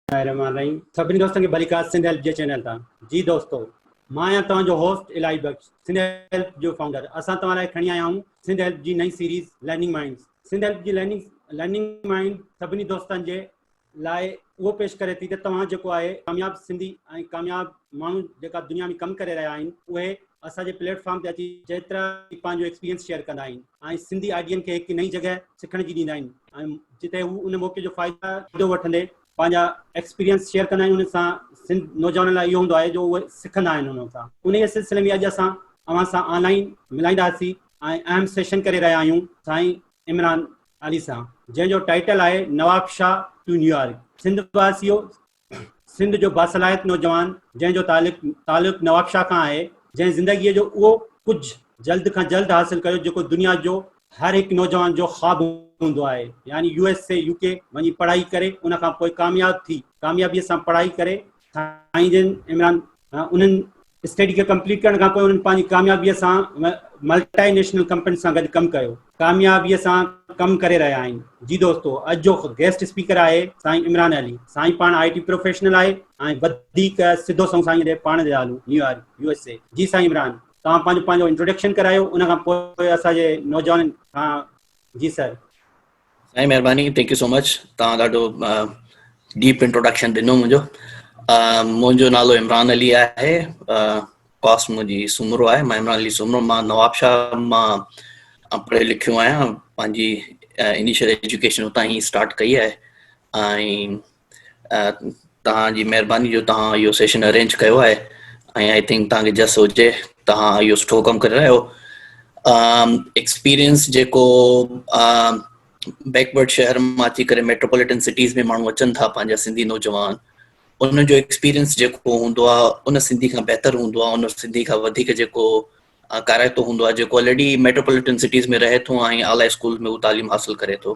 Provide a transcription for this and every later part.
رحمان رحيم سڀني دوستن کي ڀلي ڪار سنڌ هيلپ جي چينل تان جي دوستو مان آهيان توهان جو هوسٽ الائي بخش سنڌ هيلپ جو فائونڊر اسان توهان لاء کڻي آيا آهيون سنڌ هيلپ جي نئين series learning minds Sindh help جي لرننگ لرننگ مائنڊ سڀني دوستن جي لاء اهو پيش ڪري ٿي ته توهان جيڪو آهي ڪامياب سنڌي ۽ ڪامياب ماڻهو جيڪا دنيا ۾ ڪم ڪري رهيا آهن اهي اسان جي پليٽ فارم تي اچي چيترا ئي پنهنجو ايڪسپيرينس شيئر ڪندا آهن ۽ سنڌي آئيڊين کي هڪ نئين جڳهه سکڻ جي ڏيندا آهن ۽ جتي هو ان موقعي جو فائدو وٺندي پنهنجا ايڪسپيرينس شيئر ڪندا آهن ان سان سنڌ نوجوانن لاء اهو هوندو آهي جو اهي سکندا آهن انهن سان انهي سلسلي ۾ اڄ اسان اوهان سان آن لائين ملائينداسين ۽ اهم سيشن ڪري رهيا آهيون سائين عمران علي سان جنهن جو ٽائيٽل آهي نواب شاهه ٽو نيويارڪ سنڌ واسيو سنڌ جو باصلاحيت نوجوان جنهن جو تعلق تعلق نواب شاهه کان آهي جنهن زندگي جو اهو ڪجهه جلد کان جلد حاصل ڪيو جيڪو دنيا جو هر هڪ نوجوان جو خواب هوندو آهي يعني U S A U K وڃي پڙهائي ڪري ان کان پوء ڪامياب ٿي ڪاميابي سان پڙهائي ڪري سائين جن عمران انهن اسٽڊي کي ڪمپليٽ ڪرڻ کان پوء انهن پنهنجي ڪاميابي سان ملٽائي نيشنل ڪمپني سان گڏ ڪم ڪيو ڪاميابي سان ڪم ڪري رهيا آهن جي دوستو اڄ جو گيسٽ اسپيڪر آهي سائين عمران علي سائين پاڻ آئي ٽي پروفيشنل آهي ۽ وڌيڪ سڌو سنئون سائين جي پاڻ جي آلو نيويارڪ يو ايس اي جي سائين عمران توهان پنهنجو پنهنجو انٽروڊڪشن ڪرايو ان کان پوء اسان جي نوجوانن کان جي سر سائين مهرباني ٿينڪ يو سو مچ تان ڏاڍو ڊيپ انٽروڊڪشن ڏنو منهنجو منهنجو نالو عمران علي آهي ڪاس منهنجي سومرو آهي مان عمران علي سومرو مان نوابشاهه مان پڙهيو لکيو آهيان پنهنجي انيشل ايجوڪيشن اتان هي اسٽارٽ ڪئي آهي ۽ توهان جي مهرباني جو توهان اهو سيشن ارينج ڪيو آهي ۽ آئي ٿنڪ توهان کي جس هجي توهان اهو سٺو ڪم ڪري رهيا آهيو ايڪسپيرينس جيڪو بيڪورڊ شهر مان اچي ڪري ميٽروپوليٽن سٽيز ۾ ماڻهو اچن ٿا پنهنجا سنڌي نوجوان ان جو ايڪسپيرينس جيڪو هوندو آهي ان سنڌي کان بهتر هوندو آهي ان سنڌي کان وڌيڪ جيڪو ڪارائتو هوندو آهي جيڪو آلريڊي ميٽروپوليٽن سٽيز ۾ رهي ٿو ۽ اعليٰ اسڪول ۾ تعليم حاصل ڪري ٿو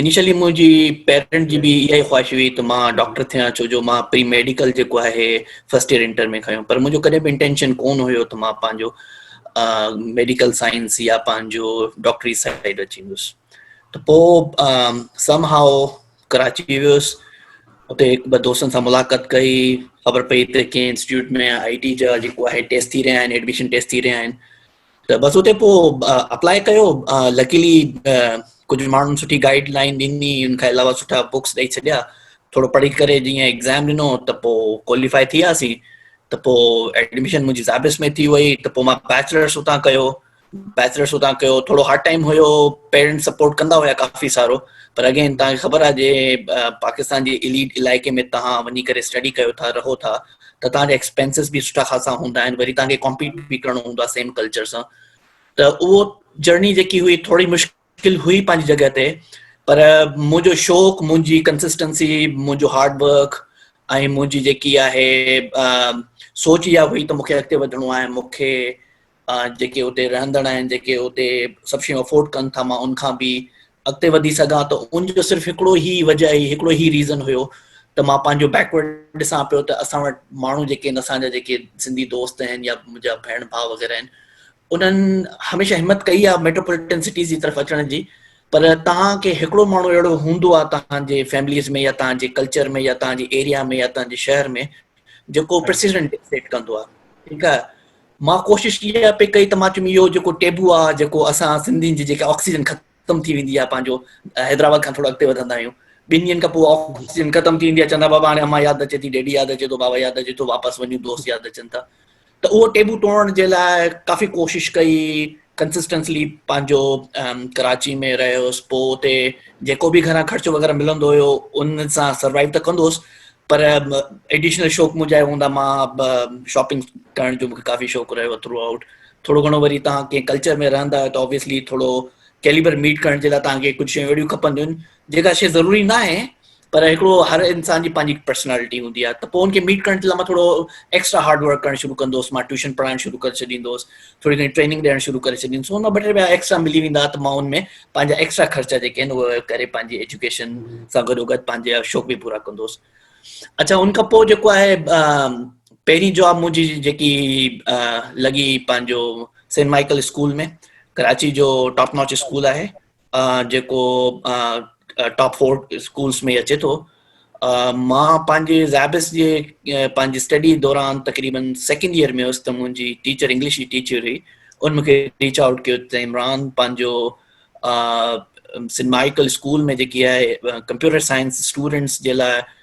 انيشلي منهنجي پيرنٽ جي به اها ئي خواهش هئي ته مان ڊاڪٽر ٿيان ڇو جو مان پري ميڊيڪل جيڪو آهي فرسٽ ايئر انٽر ۾ کنيو پر منهنجو ڪڏهن به انٽينشن ڪون هيو ته مان پنهنجو ميڊيڪل سائنس يا پنهنجو ڊاڪٽري سائيڊ اچي ويس ته پوء سم هائو ڪراچي ويس اتي هڪ ٻه دوستن سان ملاقات ڪئي خبر پئي ته ڪنهن انسٽيٽيوٽ ۾ آء ٽي جا جيڪو آهي ٽيسٽ ٿي رهيا آهن ايڊمشن ٽيسٽ ٿي رهيا آهن ته بس اتي پوء اپلاء ڪيو لڪيلي ڪجهه ماڻهن سٺي گائيڊ لائين ڏني ان کان علاوه سٺا بڪس ڏئي ڇڏيا ٿورو پڙهي ڪري جيئن ايگزام ڏنو ته پوء ڪواليفائي ٿي وياسين ته پوء ايڊمشن منهنجي زابس ۾ ٿي وئي ته پوء مان بيچلرس اتان ڪيو بيچلرس اتان ڪيو ٿورو هارڊ ٽائيم هيو پيرنٽس سپورٽ ڪندا هيا ڪافي سارو پر اگين تان کي خبر آهي جي پاڪستان جي عليٽ علائقي ۾ تان وڃي ڪري اسٽڊي ڪيو ٿا رهو ٿا ته توهان جا ايڪسپينسز به سٺا خاصا هوندا آهن وري توهان کي ڪمپيٽ به ڪرڻو هوندو آهي سيم ڪلچر سان ته اهو جرني جيڪي هئي ٿوري مشڪل هئي پنهنجي جڳهه تي پر منهنجو شوق منهنجي ڪنسسٽنسي منهنجو هارڊ ورڪ ۽ منهنجي جيڪي آهي سوچ اها هئي ته مونکي اڳتي وڌڻو آهي مونکي جيڪي اتي رهندڙ آهن جيڪي اتي سڀ شيون افورڊ ڪن ٿا مان ان کان به اڳتي وڌي سگهان ته ان جو صرف هڪڙو هي وجه هي هڪڙو هي ريزن هيو ته مان پنهنجو بيڪورڊ ڏسان پيو ته اسان وٽ ماڻهو جيڪي آهن اسان جا جيڪي سنڌي دوست آهن يا منهنجا ڀيڻ ڀاء وغيره آهن انهن هميشه همت ڪئي آهي ميٽروپوليٽن سٽيز جي طرف اچڻ جي پر تان کي هڪڙو ماڻهو اهڙو هوندو آهي تان جي فيمليز ۾ يا تان جي ڪلچر ۾ يا تان جي ايريا ۾ يا تان جي شهر ۾ جيڪو پريسيڊنٽ ڊڪٽيٽ ڪندو آهي ٺيڪ آهي مان ڪوشش اها پئي ڪئي ته مان چيم اهو جيڪو ٽيبو آهي جيڪو اسان سنڌين جي جيڪا آڪسيجن ختم ٿي ويندي آهي پنهنجو حيدرآباد کان ٿورو اڳتي وڌندا آهيون ٻن ڏينهن کان پوء آڪسيجن ختم ٿي ويندي آهي چوندا بابا هاڻي امان ياد اچي ٿي ڊيڊي ياد اچي ٿو بابا ياد اچي ٿو واپس وڃون دوست ياد اچن ٿا ته اهو ٽيبو ٽوڙڻ جي لاء ڪافي ڪوشش ڪئي ڪنسسٽنسلي پنهنجو ڪراچي ۾ رهيو هوس پوء اتي جيڪو به گهران خرچ وغيره ملندو هيو ان سان سروائيو ته ڪندو هوس پر ايڊيشنل شوق منهنجا هوندا مان شاپنگ ڪرڻ جو مونکي ڪافي شوق رهيو ٿرو آئوٽ ٿورو گهڻو وري توهان ڪنهن ڪلچر ۾ رهندا آهيو ته اوبيسلي ٿورو ڪيليبر ميٽ ڪرڻ جي لاء توهان کي ڪجهه شيون اهڙيون کپنديون آهن جيڪا شيء ضروري ناهي پر هڪڙو هر انسان جي پنهنجي هڪ پرسنالٽي هوندي آهي ته پوء ان کي ميٽ ڪرڻ جي لاء مان ٿورو ايڪسٽرا هارڊ ورڪ ڪرڻ شروع ڪندوس مان ٽيوشن پڙهائڻ شروع ڪري ڇڏيندوس ٿوري گهڻي ٽريننگ ڏيڻ شروع ڪري ڇڏيندوس ان مان ٻه ٽي رپيا ايڪسٽرا ملي ويندا ته مان ان ۾ پنهنجا ايڪسٽرا خرچا جيڪي آهن اهي ڪري پنهنجي ايجوڪيشن سان گڏو گڏ پنهنجا شوق به پورا ڪندوس اچھا ان کان پوء جيڪو آهي پهرين جاب منهنجي جيڪي لڳي پنهنجو سينٽ مائيڪل اسڪول ۾ ڪراچي جو ٽاپ ناچ اسڪول آهي جيڪو ٽاپ فور اسڪولس ۾ اچي ٿو مان پنهنجي زيابس جي پنهنجي اسٽڊي دوران تقريبن سيڪنڊ ايئر ۾ هيس ته منهنجي ٽيچر انگلش جي ٽيچر هئي ان مون کي ريچ آؤٽ ڪيو ته عمران پنهنجو سنمائيڪل اسڪول ۾ جيڪي آهي ڪمپيوٽر سائنس اسٽوڊنٽس جي لاء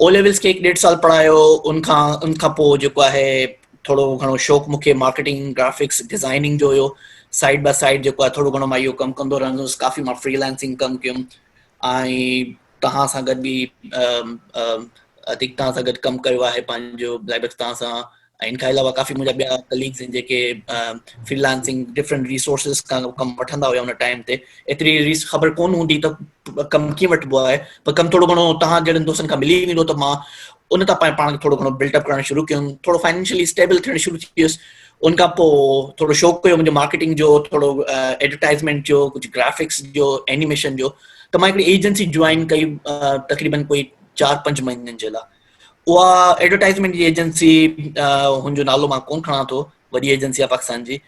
او ليولز کي هڪ ڏيڍ سال پڙهايو ان کان ان کان پوء جيڪو آهي ٿورو گهڻو شوق مون کي مارڪيٽنگ گرافڪس ڊيزائننگ جو هيو سائيڊ باء سائيڊ جيڪو آهي ٿورو گهڻو مان اهو ڪم ڪندو رهندو هوس ڪافي مان فريلانسنگ ڪم ڪيم ۽ توهان سان گڏ به اديڪ توهان سان گڏ ڪم ڪيو آهي پنهنجو لائبر توهان سان ۽ ان کان علاوه ڪافي منهنجا ٻيا ڪليگز آهن جيڪي فري لانسنگ ڊفرنٽ ريسورسز کان ڪم وٺندا هيا ان ٽائيم تي ايتري ريس خبر ڪون هوندي ته ڪم ڪيئن وٺبو آهي پر ڪم ٿورو گهڻو تهان جهڙن دوستن کان ملي ويندو ته مان ان تان پاڻ پاڻ کي ٿورو گهڻو بلٽ اپ ڪرڻ شروع ڪيم ٿورو فائنينشلي اسٽيبل ٿيڻ شروع ٿي ويس ان کان پوء ٿورو شوق پيو منهنجو مارڪيٽنگ جو ٿورو ايڊورٽائزمنٽ جو ڪجهه گرافڪس جو اينيميشن جو ته مان هڪڙي ايجنسي جوائن ڪئي تقريبن ڪوئي چار پنج مهينن جي لاء اها ايڊورٽائزمينٽ جي ايجنسي هن جو نالو مان ڪون کڻان ٿو وڏي ايجنسي آهي پاڪستان جي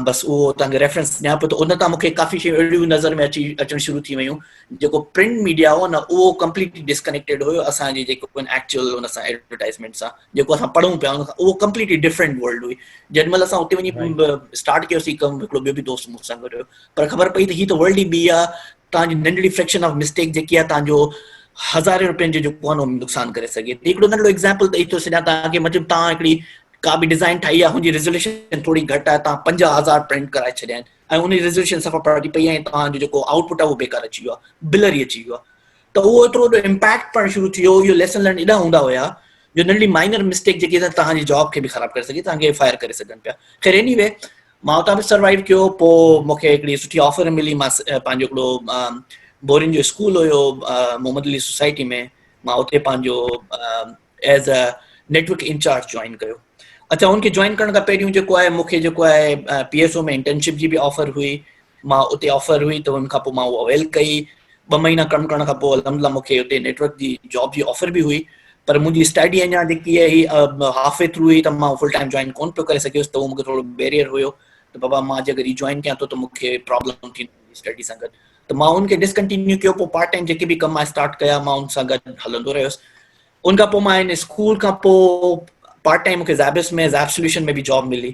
بس اهو اتان کي ريفرنس ڏيان پيو ته ان تان مونکي ڪافي شيون اهڙيون نظر ۾ اچي اچڻ شروع ٿي ويون جيڪو پرنٽ ميڊيا هو نه اهو ڪمپليٽلي ڊسڪنيڪٽيڊ هيو اسانجي جيڪو ايڪچوئل ان سان ايڊورٽائزمينٽ سان جيڪو اسان پڙهون پيا اهو ڪمپليٽلي ڊفرنٽ ورلڊ هئي جڏهن مهل اسان اتي وڃي اسٽارٽ ڪيوسي ڪم هڪڙو ٻيو به دوست مون سان گڏ هيو پر خبر پئي ته هي ته ورلڊ ئي ٻي آهي توهان جي ننڍڙي فريڪشن آف مسٽيڪ جيڪي آهي توهان جو هزارين رپين جو جيڪو آهي نو نقصان ڪري سگهي ٿي هڪڙو ننڍڙو ايگزامپل ڏئي ٿو سڏيان توهان کي مطلب توهان هڪڙي ڪا به ڊيزائن ٺاهي آهي هن جي ريزوليوشن ٿوري گهٽ آهي توهان پنجاهه هزار پرنٽ ڪرائي ڇڏيا آهن ۽ ان جي ريزوليوشن صفا پڙهجي پئي آهي توهان جو جيڪو آؤٽ پٽ آهي اهو بيڪار اچي ويو آهي بلر ئي اچي ويو آهي ته اهو ايترو وڏو امپيڪٽ پڙهڻ شروع ٿي ويو اهو ليسن لرن ايڏا هوندا هيا جو ننڍڙي مائنر مسٽيڪ جيڪي توهان جي جاب کي به خراب ڪري سگهي توهان کي فائر ڪري سگهن پيا خير ايني وي مان اتان به سروائيو ڪيو پوء مون کي هڪڙي سٺي آفر ملي مان پنهنجو هڪڙو بورين جو اسڪول هيو محمد علي سوسائٽي ۾ مان اتي پنهنجو as a network incharge join ڪيو اچا ان کي جوائن ڪرڻ کان پهريون جيڪو آهي مون کي جيڪو آهي پي ايس او ۾ انٽرنشپ جي به آفر هئي مان اتي آفر هئي ته ان کان پوء مان اها اويل ڪئي ٻه مهينا ڪم ڪرڻ کان پوء الحمدلله مون کي اتي نيٽ ورڪ جي جاب جي آفر به هئي پر منهنجي اسٽڊي اڃا جيڪي هئي هي هاف وي ٿرو هئي ته مان فل ٽائيم جوائن ڪون پيو ڪري سگهيس ته اهو مون کي ٿورو بيريئر هيو ته بابا مان جي اگر ري جوائن ڪيان ٿو ته مون کي پرابلم ٿيندي اسٽڊي سان گڏ ته مان ان کي ڊسڪنٽينيو ڪيو پوء پارٽ ٽائيم جيڪي به ڪم آء اسٽارٽ ڪيا مان ان سان گڏ هلندو رهيس ان کان پوء مان ان اسڪول کان پوء پارٽ ٽائيم مون کي زائبس ۾ زائب سوليوشن ۾ به جاب ملي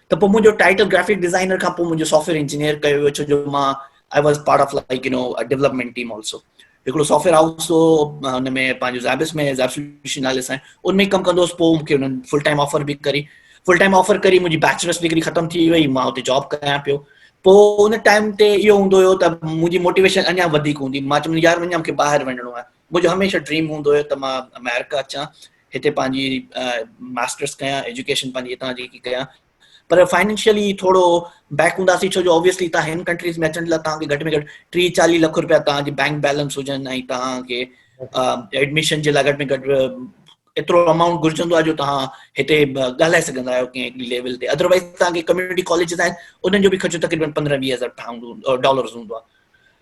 ته پوء منهنجو ٽائٽل گرافڪ ڊيزائنر کان پوء منهنجو سافٽويئر انجنيئر ڪيو ويو ڇو جو مان I was part of like you know development team also هڪڙو سافٽويئر هائوس هو ان ۾ پنهنجو زابس ۾ زاب سوليوشن نالي سان ان ۾ ڪم ڪندو هوس پوء مونکي انهن فل ٽائيم آفر به ڪري فل ٽائيم آفر ڪري منهنجي بيچلرس ڊگري ختم ٿي وئي مان اتي جاب ڪريان پيو پوء ان ٽائيم تي اهو هوندو هيو ته منهنجي موٽيويشن اڃا وڌيڪ هوندي مان چوندو يار اڃا مونکي ٻاهر وڃڻو آهي منهنجو هميشه ڊريم هوندو هيو ته مان آمريڪا اچان هتي پنهنجي ماسٽرس ڪيان ايجوڪيشن پنهنجي هتان جي ڪيان پر فائنينشلي ٿورو بيڪ هونداسي ڇو جو اوبيسلي تان هن ڪنٽريز ۾ اچڻ لاء تان کي گهٽ ۾ گهٽ 30 40 لک روپيا تان جي بينڪ بيلنس هجن ۽ تان کي ايڊميشن جي لاء گهٽ ۾ گهٽ ايترو اماونٽ گهرجندو آ جو تان هتي ڳالهائي سگهندا آهيو ڪنهن هڪڙي ليول تي اڌروائز تان کي ڪميونٽي ڪاليجز آهن انهن جو به خرچ تقريبن 15 20000 پاونڊ ڊالرز هوندو آ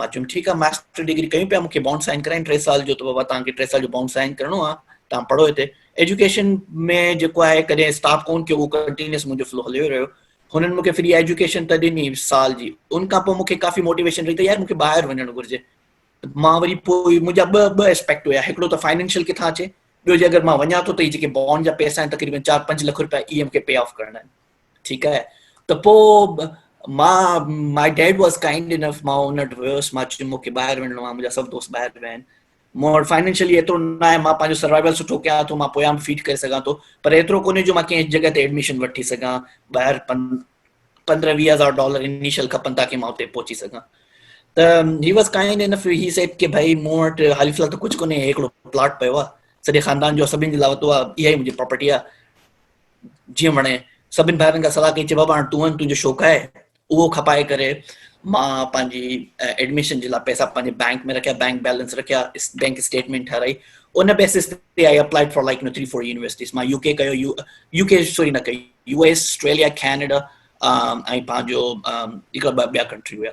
مان چيم ٺيڪ آ ماسٽر ڊگري ڪيون پيا مون کي بانڊ سائن ڪرائين ٽي سال جو ته بابا توهان کي ٽي سال جو بانڊ سائن ڪرڻو آ توهان پڙهو هتي ايجوڪيشن ۾ جيڪو آهي ڪڏهن اسٽاپ ڪون ٿيو هو ڪنٽينيوس منهنجو فلو هليو رهيو هنن مون کي فري ايجوڪيشن ته ڏني سال جي ان کان پوء مون کي ڪافي موٽيويشن رهي ته يار مون کي ٻاهر وڃڻ گهرجي مان وري پوء منهنجا ٻه ٻه اسپيڪٽ هيا هڪڙو ته فائنينشل ڪٿان اچي ٻيو جي اگر مان وڃان ٿو ته هي جيڪي بانڊ جا پيسا آهن تقريبن چار پنج لک روپيا اي ايم کي پي آف ڪرڻا آهن ٺيڪ آهي ته پو مان my dad was kind enough مان ان وٽ ويوس مان چيو مونکي ٻاهر وڃڻو آهي منهنجا سڀ دوست ٻاهر ويا آهن مون وٽ فائنينشلي ايترو نه آهي مان پنهنجو سروائيول سٺو ڪيان ٿو مان پويان به فيڊ ڪري سگهان ٿو پر ايترو ڪونهي جو مان ڪنهن جڳهه تي ايڊميشن وٺي سگهان ٻاهر پندرهن ويهه هزار ڊالر انيشل کپن تاڪي مان اتي پهچي سگهان ته he was kind in he set ڪي ڀائي مون وٽ حال فلحال ته ڪجهه ڪونهي هڪڙو پلاٽ پيو آهي سڄي خاندان جو سڀني جي لاء وتو آهي اها ئي منهنجي پراپرٽي آهي جيئن وڻي. سڀني ڀائرن کان صلاح ڪئي، چي بابا هاڻ تون وڃ، تنهنجو شوق آهي، اهو کپائي ڪري. مان پنهنجي ايڊميشن جي لاء پئسا پنهنجي بئنڪ ۾ رکيا، بئنڪ بئلنس رکيا، بئنڪ اسٽيٽمينٽ ٺهرائي، ان بيسس تي I applied for like three four universities. مان يو ڪي ڪيو، يو ڪي سوري نه ڪئي، يو ايس، آسٽريليا، ڪينيڊا ۽ پنهنجو هڪڙا ٻه ٻيا ڪنٽري هيا.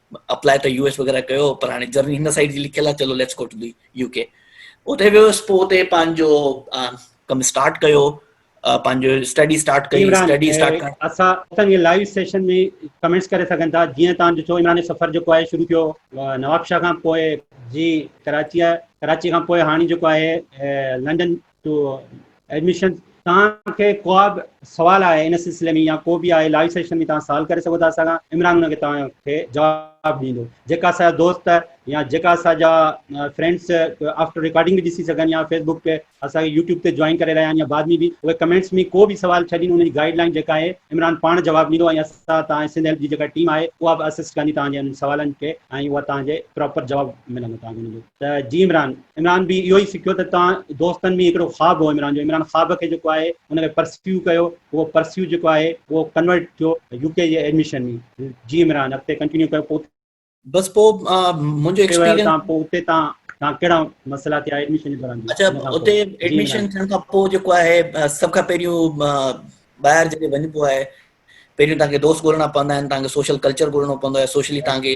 اپلاء ته يو ايس وغيره ڪيو پر هاڻي جرني هن سائيڊ جي لکيل آهي چلو let's go to the U K اتي ويوس پوء اتي پنهنجو ڪم اسٽارٽ ڪيو پنهنجو اسٽڊي اسٽارٽ ڪئي اسٽڊي اسٽارٽ ڪرڻ اسان اتن جي لائيو سيشن ۾ ڪمنٽس ڪري سگهن ٿا جيئن تان ڏٺو عمران جو سفر جيڪو آهي شروع ٿيو نوابشاهه کان پوء جي ڪراچي ڪراچي کان پوء هاڻي جيڪو آهي لنڊن تو ايڊميشن تان کي ڪواب سوال آهي ان سلسلي ۾ يا ڪو به آهي لائيو سيشن ۾ تان سوال ڪري سگهو ٿا اسان کان عمران ان کي تان کي جواب ڏيندو جيڪا اسان دوست يا جيڪا اسان جا فرينڊس آفٽر ريڪارڊنگ به ڏسي سگهن يا فيسبوڪ تي اسان کي يوٽيوب تي جوائن ڪري رهيا آهن يا بعد ۾ به اهي ڪمينٽس ۾ ڪو به سوال ڇڏين ان جي گائيڊ لائين جيڪا آهي عمران پاڻ جواب ڏيندو ۽ اسان تان سنڌ هيلپ جي جيڪا ٽيم آهي اها به اسسٽ ڪندي تان جي سوالن کي ۽ اها تان جي پراپر جواب ملندو تان جو ته جي عمران عمران به اهو ئي سکيو ته توهان دوستن ۾ هڪڙو خواب هو عمران جو عمران خواب کي جيڪو آهي ان کي پرسيو ڪيو اهو پرسيو جيڪو آهي اهو ڪنورٽ ٿيو يو ڪي جي ايڊميشن ۾ جي عمران اڳتي ڪنٽينيو ڪيو پوء بس پوء منهنجو ايڪسپيرينس ته پوء اتي تان تان ڪهڙا مسئلا ٿيا ايڊميشن جي دوران اچا اتي ايڊميشن ٿيڻ کان پوء جيڪو آهي سڀ کان پهريون ٻاهر جڏهن وڃبو آهي پهريون تان کي دوست ڳولڻا پوندا آهن تان کي سوشل ڪلچر ڳولڻو پوندو آهي سوشلي تان کي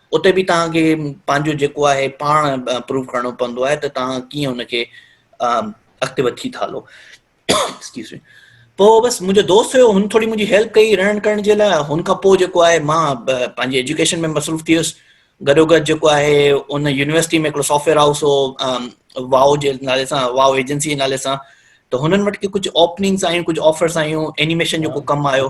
اتي به توهان کي پنهنجو جيڪو آهي پاڻ پروف ڪرڻو پوندو آهي ته توهان ڪيئن ان کي اڳتي وٺي ٿا هلو ايڪسڪيوز مي پوء بس منهنجو دوست هيو هن ٿوري منهنجي هيلپ ڪئي رڙن ڪرڻ جي لاء هن کان پوء جيڪو آهي مان پنهنجي ايجوڪيشن ۾ مصروف ٿي ويس گڏو گڏ جيڪو آهي ان يونيورسٽي ۾ هڪڙو سافٽويئر هائوس هو واو جي نالي سان واو ايجنسي جي نالي سان ته هنن وٽ ڪي ڪجهه اوپننگس آيون ڪجهه آفرس آيون اينيميشن جو ڪو ڪم آيو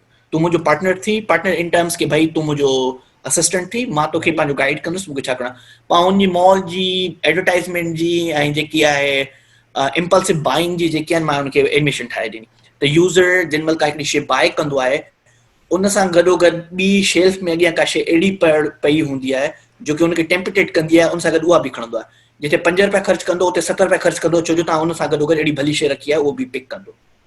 تون منهنجو پارٽنر ٿي پارٽنر ان ٽرمز ڪي ڀائي تون منهنجو اسسٽنٽ ٿي مان توکي پنهنجو گائيڊ ڪندس مونکي ڇا ڪرڻو پاڻ ان جي مال جي ايڊورٽائزمينٽ جي ۽ جيڪي آهي امپلسو بائنگ جي جيڪي آهن مان ان کي ايڊميشن ٺاهي ڏني ته يوزر جن مهل ڪا هڪڙي شي بائي ڪندو آهي ان سان گڏو گڏ ٻي شيلف ۾ اڳيان ڪا شي اهڙي پڙ پئي هوندي آهي جو ڪي ان کي ٽيمپٽيڊ ڪندي آهي ان سان گڏ اها به کڻندو آهي جتي پنج روپيا خرچ ڪندو اتي ست روپيا خرچ ڪندو ڇو جو تان ان سان گڏو گڏ اهڙي ڀلي شي رکي آهي اهو به پڪ ڪندو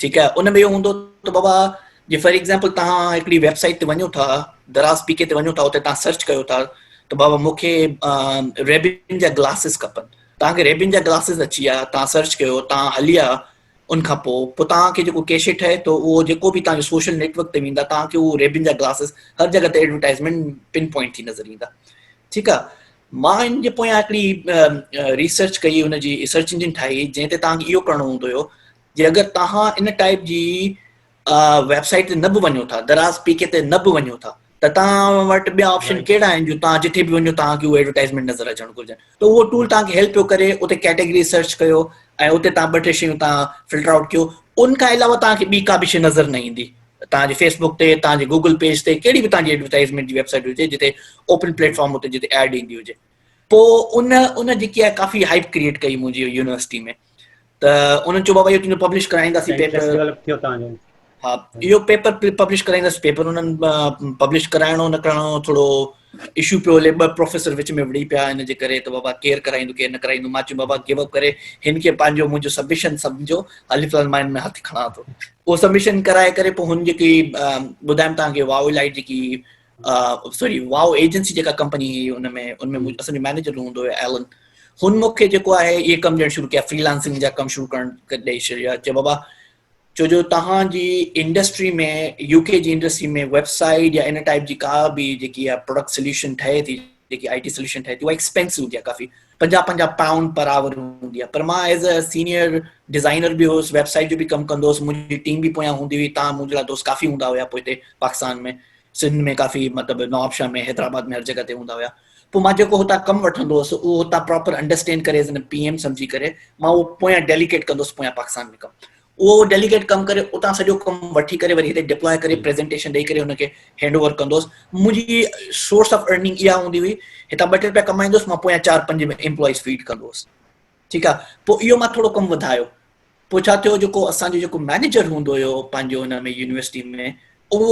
ٺيڪ آهي ان ۾ اهو هوندو ته بابا جي فار ايگزامپل تهان هڪڙي ويب سائيٽ تي وڃو ٿا دراز پي ڪي تي وڃو ٿا اتي تهان سرچ ڪيو ٿا ته بابا مون کي ريبن جا گلاسز کپن تهان کي ريبن جا گلاسز اچي ويا تهان سرچ ڪيو تهان هلي ويا ان کان پوء پوء تهان کي جيڪو ڪيشي ٺهي ٿو اهو جيڪو به تهان جو سوشل نيٽورڪ تي ويندا تهان کي اهو ريبن جا گلاسز هر جڳه تي ايڊورٽائزمنٽ پن پوائنٽ ٿي نظر ايندا ٺيڪ آهي مان ان جي پويان هڪڙي ريسرچ ڪئي ان جي سرچ انجن ٺاهي جنهن تي توهان کي اهو ڪرڻو هوندو هيو جي اگر توهان ان ٽائپ جي ويب سائيٽ تي نه به وڃو ٿا دراز پي کي تي نه به وڃو ٿا ته توهان وٽ ٻيا آپشن ڪهڙا آهن جو توهان جتي به وڃو توهان کي اهو ايڊورٽائزمينٽ نظر اچڻ گهرجن ته اهو ٽول توهان کي هيلپ پيو ڪري اتي ڪيٽيگري سرچ ڪيو ۽ اتي توهان ٻه ٽي شيون توهان فلٽر آئوٽ ڪيو ان کان علاوه توهان کي ٻي ڪا به شيء نظر نه ايندي توهان جي فيس بوڪ تي، توهان جي گوگل پيج تي، ڪهڙي به توهان جي ايڊورٽائيزمينٽ جي ويب سائيٽ هجي جتي اوپن پليٽ فارم هتي جتي ايڊ ايندي هجي پوء ان ان جيڪي آهي ڪافي هائپ ڪريئيٽ ڪئي منهنجي يونيورسٽي ۾ ته انهن چيو بابا اهو تنهنجو پبلش ڪرائينداسين پيپر ها اهو پيپر پبلش ڪرائينداسين پيپر انهن پبلش ڪرائڻو نه ڪرائڻو ٿورو اشو پيو هلي ٻه پروفيسر وچ ۾ وڙهي پيا ان جي ڪري ته بابا ڪير ڪرائيندو ڪير نه ڪرائيندو مان چيم بابا گيو اپ ڪري هن کي پنهنجو منهنجو سبمشن سمجهو الف لام مائن ۾ هٿ کڻان ٿو اهو سبمشن ڪرائي ڪري پوء هن جيڪي ٻڌايم توهان کي واو لائيٽ جيڪي سوري واو ايجنسي جيڪا ڪمپني هئي ان ۾ ان ۾ اسان جو مينيجر هوندو هو ايلن هن مونکي جيڪو آهي اهي ڪم ڄڻ شروع ڪيا فريلانسنگ جا ڪم شروع ڪرڻ ڏئي ڇڏيا چي بابا ڇو جو توهان جي انڊسٽري ۾ يو ڪي جي انڊسٽري ۾ ويب سائيٽ يا ان ٽائيپ جي ڪا به جيڪي اها پروڊڪٽ سليوشن ٺهي ٿي جيڪي آئي ٽي سليوشن ٺهي ٿي اها ايڪسپينسو هوندي آهي ڪافي پنجاهه پنجاهه پائونڊ پر آور هوندي آهي پر مان ايز اي سينيئر ڊيزائنر به هوس ويب سائيٽ جو به ڪم ڪندو هوس منهنجي ٽيم به پويان هوندي هئي تان منهنجي لاء دوست ڪافي هوندا هيا پوء هتي پاڪستان ۾ سنڌ ۾ ڪافي مطلب نوابشاهه ۾ حيدرآباد ۾ هر جڳهه تي هوندا هيا پوء مان جيڪو هتان ڪم وٺندو هوس اهو هتان پراپر انڊرسٽينڊ ڪري ايز اين پي ايم سمجهي ڪري مان اهو پويان ڊيليڪيٽ ڪندو هوس پويان پاڪستان ۾ ڪم اهو ڊيليڪيٽ ڪم ڪري اتان سڄو ڪم وٺي ڪري وري هتي ڊپلاء ڪري پريزنٽيشن ڏيئي ڪري هن کي هينڊ اوور ڪندو هوس منهنجي سورس آف ارننگ اها هوندي هئي هتان ٻه ٽي روپيا ڪمائيندو هوس مان پويان چار پنج امپلائيز فيڊ ڪندو هوس ٺيڪ آ پو اهو مان ٿورو ڪم وڌايو پو ڇا ٿيو جيڪو اسان جو جيڪو مئنيجر هوندو هيو پنهنجو ان ۾ يونيورسٽي ۾ اهو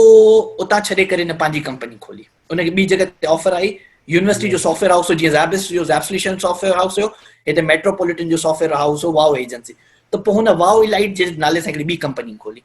اتان ڇڏي ڪري هن پنهنجي ڪمپني کولي ان کي ٻي جڳهه تي آفر آئي يونيورسٽي جو سافٽويئر هائوس هو جيئن زيبس جو زيبسليشن سافٽويئر هائوس هيو هتي ميٽروپوليٽن جو سافٽويئر هائوس هو واو ايجنسي ته پو هن واو الائيٽ جي نالي سان هڪڙي ٻي ڪمپني کولي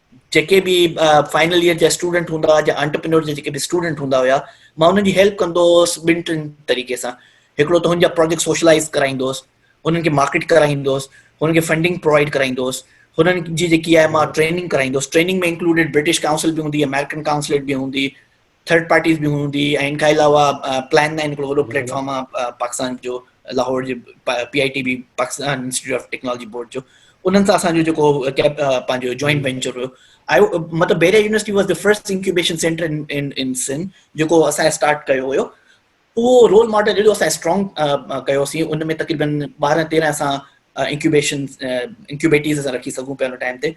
جيڪي به فائنل ايئر جا اسٽوڊنٽ هوندا هئا جا انٽرپرينور جا جيڪي به اسٽوڊنٽ هوندا هيا مان انهن جي هيلپ ڪندو هوس ٻن ٽن طريقي سان هڪڙو ته هن جا پروجيڪٽ سوشلائز ڪرائيندو هوس هنن کي مارڪيٽ ڪرائيندو هوس هنن کي فنڊنگ پرووائڊ ڪرائيندو هوس هنن جي جيڪي آهي مان ٽريننگ ڪرائيندو هوس ٽريننگ ۾ انڪلوڊيڊ برٽش ڪائونسل به هوندي امريڪن ڪائونسليٽ به هوندي ٿرڊ پارٽيز به هوندي ۽ ان کان علاوه پلان نائن هڪڙو وڏو پليٽ فارم آهي پاڪستان جو لاهور جي P I T B Pakistan Institute of Technology Board جو انهن سان اسان جو جيڪو پنهنجو جوائنٽ وينچر هيو آئي مطلب بيريا university was the first incubation centre in in Sindh جيڪو اسان اسٽارٽ ڪيو هيو اهو رول ماڊل اهڙو اسان اسٽرانگ ڪيوسي ان ۾ تقريبن ٻارهن تيرهن اسان انڪيوبيشن انڪيوبيٽيز اسان رکي سگهون پيا ان ٽائم تي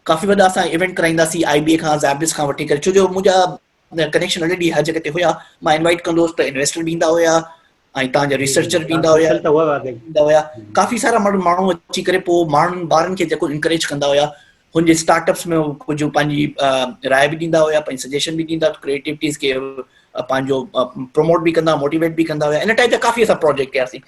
ڪافي وڏا اسان ايونٽ ڪرائينداسين آئي بي اي کان زابرس کان وٺي ڪري ڇو جو منهنجا ڪنيڪشن الريڊي هر جڳهه تي هيا مان انوائيٽ ڪندو هوس ته انويسٽر به ايندا هيا ۽ تان جا ريسرچر به ايندا هيا ته هو واري ايندا هيا ڪافي سارا ماڻهو اچي ڪري پو ماڻهن بارن کي جيڪو انڪريج ڪندا هيا هن جي اسٽارٽ اپس ۾ ڪجهه پنهنجي راء به ڏيندا هيا پنهنجي سجيشن به ڏيندا ڪريٽيوٽيز کي پنهنجو پروموٽ به ڪندا موٽيويٽ به ڪندا هيا ان ٽائيپ جا ڪافي اسان پروجيڪٽ ڪياسين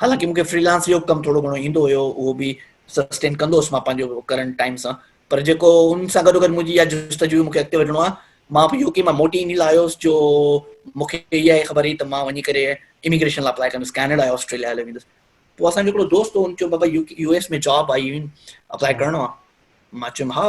حالانڪه مون کي فري لانس جو ڪم ٿورو گهڻو ايندو هيو اهو به سسٽين ڪندو هوس مان پنهنجو ڪرنٽ ٽائيم سان پر جيڪو ان سان گڏو گڏ منهنجي اها جستجو مون کي اڳتي وڌڻو آهي مان به يو ڪي مان موٽي ان لاء آيوس جو مون کي اها خبر هئي ته مان وڃي ڪري اميگريشن لاء اپلائي ڪندس ڪينيڊا يا آسٽريليا هليو ويندس پوء اسان جو هڪڙو دوست هو ان چيو بابا يو يو ايس ۾ جاب آئي اپلائي ڪرڻو آهي مان چيم ها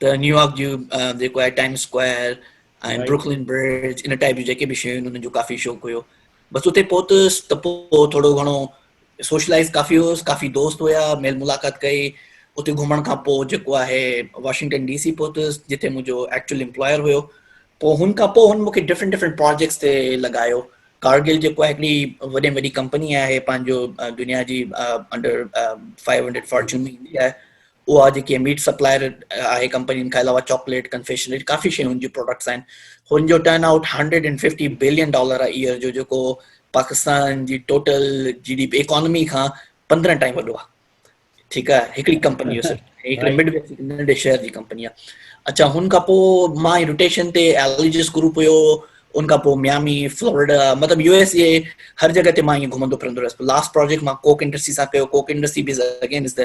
ته نيويارڪ جي جيڪو آهي ٽائيم اسڪوائر ۽ بروڪلن برج ان ٽائيپ جون جيڪي به شيون انهن جو ڪافي شوق هيو بس اتي پهتس ته پوء ٿورو گهڻو سوشلائز ڪافي هوس ڪافي دوست هيا ميل ملاقات ڪئي اتي گهمڻ کان پوء جيڪو آهي واشنگٽن ڊي سي پهتس جتي منهنجو ايڪچوئل امپلائر هيو پوء هن کان پوء هن مونکي ڊفرنٽ ڊفرنٽ پروجيڪٽس تي لڳايو ڪارگل جيڪو آهي هڪڙي وڏي ۾ وڏي ڪمپني آهي پنهنجو دنيا جي انڊر فائيو هنڊريڊ فارچون ۾ ايندي آهي اها جيڪي ميٽ سپلائر آهي ڪمپنين کان علاوه چاڪليٽ ڪنفيشنري ڪافي شيون جي پروڊڪٽس آهن هن جو turn out hundred and fifty billion dollar آهي ايئر جو جيڪو پاڪستان جي total G D P economy کان پندرهن ٽائم وڏو آهي ٺيڪ آهي هڪڙي ڪمپني هڪڙي مڊ ويسٽ ننڍي شهر جي ڪمپني آهي اچھا هن کان پوء مان روٽيشن تي اليجس گروپ هيو ان کان پوء ميامي فلوريڊا مطلب يو ايس اي هر جڳهه تي مان ائين گهمندو پھرندو رهيس لاسٽ پروجيڪٽ مان ڪوڪ انڊسٽري سان ڪيو ڪوڪ انڊسٽري به اگين از ته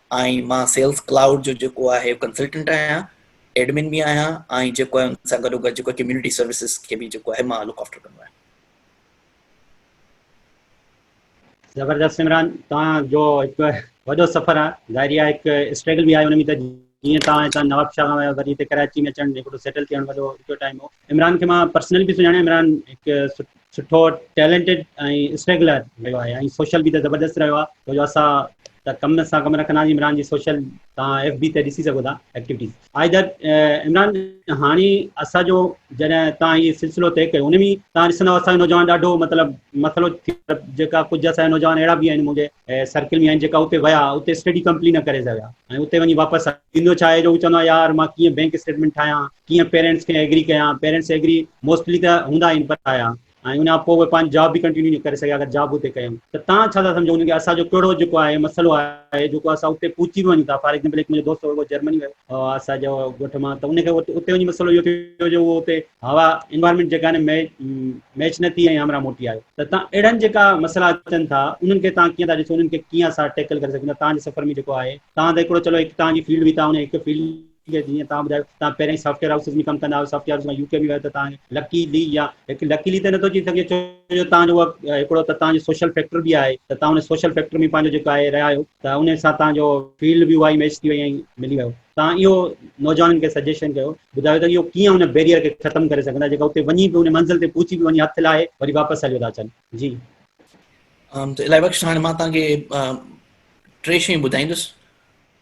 ۽ مان سيلز ڪلائوڊ جو جيڪو آهي ڪنسلٽنٽ آهيان ايڊمن به آهيان ۽ جيڪو آهي ان سان گڏو گڏ جيڪو ڪميونٽي سروسز کي به جيڪو آهي مان لوڪ آفٽر ڪندو آهيان. زبردست سمران توهان جو هڪ وڏو سفر آهي ظاهري آهي هڪ اسٽرگل به آهي ان ۾ ته جيئن توهان هتان نواب شاهه ويو وري هتي ڪراچي ۾ اچڻ هڪڙو سيٽل ٿيڻ وڏو ڏکيو ٽائيم هو عمران کي مان پرسنل به سڃاڻان عمران هڪ سٺو ٽيلنٽيڊ ۽ اسٽرگلر رهيو آهي ۽ سوشل به ته زبردست رهيو آهي ڇو جو اسان ته ڪم سان ڪم رکندا آهيون عمران جي سوشل تان ايف بي تي ڏسي سگهو ٿا ايڪٽيوٽيز آئي در عمران هاڻي اسان جو جڏهن تان هي سلسلو طئي ڪيو ان ۾ تان ڏسندو اسان نوجوان ڏاڍو مطلب مسئلو ٿي جيڪا ڪجهه اسان نوجوان اهڙا به آهن منهنجي سرڪل ۾ آهن جيڪا اتي ويا اتي اسٽڊي ڪمپليٽ نه ڪري سگهيا ۽ اتي وڃي واپس ٿيندو ڇا آهي جو چوندو آهي يار مان ڪيئن بينڪ اسٽيٽمنٽ ٺاهيان ڪيئن پيرنٽس کي ايگري ڪيان پيرنٽس ايگري موسٽلي ته هوندا آهن پر آيا ۽ ان کان پوء اهي پنهنجي جاب به ڪنٽينيو نه ڪري سگهيا اگر جاب اتي ڪيائون ته تان ڇا ٿا سمجهو هجن ڪي اسان جو ڪهڙو جيڪو آهي مسئلو آهي جيڪو اسان اتي پهچي به وڃون ٿا فار ايگزامپل هڪ منهنجو دوست هو اهو جرمني ويو هو اسان جي ڳوٺ مان ته ان کي اتي وڃي مسئلو اهو ٿيو جو اهو اتي هوا انوائرمينٽ جيڪا آهي ميچ نه ٿي ۽ همراهه موٽي آيو ته تان اهڙن جيڪا مسئلا اچن ٿا انهن کي تان ڪيئن ٿا ڏسو انهن کي ڪيئن اسان ٽيڪل ڪري سگهون ٿا تان جي سفر ۾ جيڪو آهي تان ته هڪڙو چلو هڪ تان جي فيلڊ هئي تان ان هڪ فيلڊ جي جيئن توهان ٻڌايو توهان پهريائين سافٽويئر هائوسز ۾ ڪم ڪندا هيو سافٽويئر هائوس مان يو ڪي ۾ ويو ته توهان کي لڪي لي يا هڪ لڪي لي ته نٿو چئي سگهجي ڇو جو توهان جو اها هڪڙو ته توهان جو سوشل فيڪٽر به آهي ته توهان ان سوشل فيڪٽر ۾ پنهنجو جيڪو آهي رهيا آهيو ته ان سان توهان جو فيلڊ به اها ئي ميچ ٿي وئي ۽ ملي ويو توهان اهو نوجوانن کي سجيشن ڪيو ٻڌايو ته اهو ڪيئن ان بيريئر کي ختم ڪري سگهندا جيڪا اتي وڃي به ان منزل تي پهچي به وڃي هٿ لاهي وري واپس هليو ٿا اچن جي الائي بخش هاڻي مان توهان کي ٽي شيون ٻڌائيندس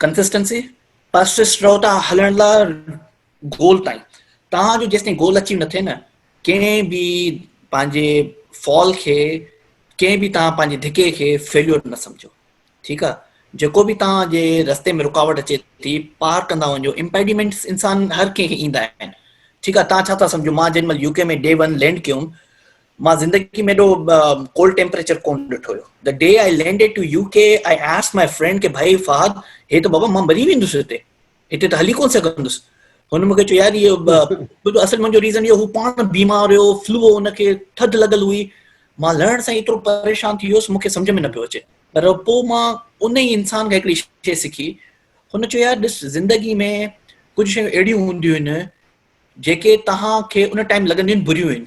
ڪنسسٽنسي پرسسٽ رهو ٿا هلڻ لاء گول تائين توهان جو جيستائين گول اچيو نه ٿئي نه ڪنهن به پنهنجي فال کي ڪنهن به توهان پنهنجي ڌڪي کي فيليور نه سمجھو ٺيڪ آ جيڪو به توهان جي رستي ۾ رڪاوٽ اچي ٿي پار ڪندا وڃو امپيڊيمنٽس انسان هر ڪنهن کي ايندا آهن ٺيڪ آ توهان ڇا ٿا سمجھو مان جنهن مهل U K ۾ day one land ڪيوم مان زندگي ۾ ايڏو ڪولڊ ٽيمپريچر ڪون ڏٺو هيو the day I landed to U K I ask my friend ڪي ڀائي فهد هي ته بابا مان مري ويندس هتي هتي ته هلي ڪون سگهندس هن مونکي چيو يار اهو اصل منهنجو ريزن اهو هو پاڻ بيمار هيو فلو هو هن کي ٿڌ لڳل هئي مان لهڻ سان ايترو پريشان ٿي ويس مونکي سمجھ ۾ نه پيو اچي پر پوء مان ان ئي انسان کي هڪڙي شي سکي هن چيو يار ڏس زندگي ۾ ڪجھ شيون اهڙيون هونديون آهن جيڪي توهان کي ان ٽائيم لڳنديون آهن بريون آهن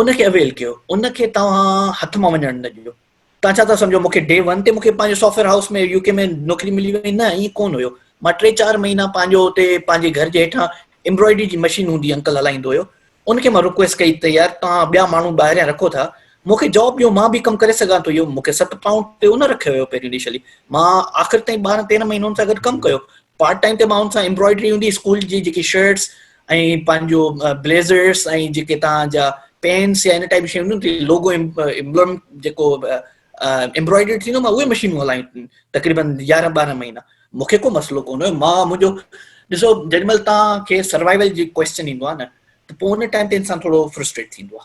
ان کي اويل ڪيو ان کي توهان هٿ مان وڃڻ نه ڏيو توهان ڇا ٿا سمجهو مون کي ڊي ون تي مون کي پنهنجو سافٽويئر هائوس ۾ يو ڪي ۾ نوڪري ملي وئي نه ائين ڪون هيو مان ٽي چار مهينا پنهنجو اتي پنهنجي گهر جي هيٺان امبرائڊري جي مشين هوندي انڪل هلائيندو هيو ان کي مان رڪويسٽ ڪئي ته يار توهان ٻيا ماڻهو ٻاهريان رکو ٿا مون کي جاب ڏيو مان به ڪم ڪري سگهان ٿو اهو مون کي ست پائونڊ تي ان رکيو هيو پهريون انيشلي مان آخر تائين ٻارهن تيرهن مهينو ان سان گڏ ڪم ڪيو پارٽ ٽائيم تي ماڻهن سان امبرائڊري هوندي اسڪول جي جيڪي شرٽس ۽ پنهنجو بليزرس ۽ جيڪي تان جا پينس يا ان ٽائيپ شيون هونديون تي لوگو امبلم جيڪو امبرائڊري ٿيندو مان اهي مشينون هلايون تقريبن 11 12 مهينا مونکي ڪو مسئلو ڪون هيو مان منهنجو ڏسو جڏهن مل تان کي سروائيول جي ڪويسچن ايندو آ نه ته پو ان ٽائيم تي انسان ٿورو فرسٽريٽ ٿيندو آ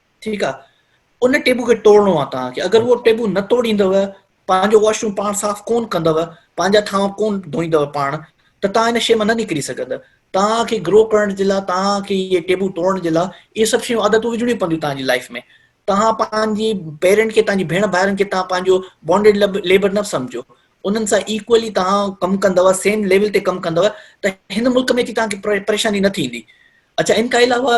ٺيڪ آ ان ٽيبو کي ٽوڙڻو آ توهان کي اگر اهو ٽيبو نه ٽوڙيندو پنهنجو واش روم پاڻ صاف ڪون ڪندو پنهنجا ٿانو ڪون ڌوئيندو پاڻ ته توهان ان شي مان نه نڪري سگهندا توهان کي گرو ڪرڻ جي لاء توهان کي اهي ٽيبو ٽوڙڻ جي لاء اهي سڀ شيون عادتون وجهڻيون پونديون توهان جي لائف ۾ توهان پنهنجي پيرنٽ کي توهان جي ڀيڻ ڀائرن کي توهان پنهنجو بانڊيڊ ليبر نه سمجهو انهن سان ايڪولي توهان ڪم ڪندو سيم ليول تي ڪم ڪندو ته هن ملڪ ۾ اچي توهان کي پريشاني نه ٿيندي اچھا ان کان علاوه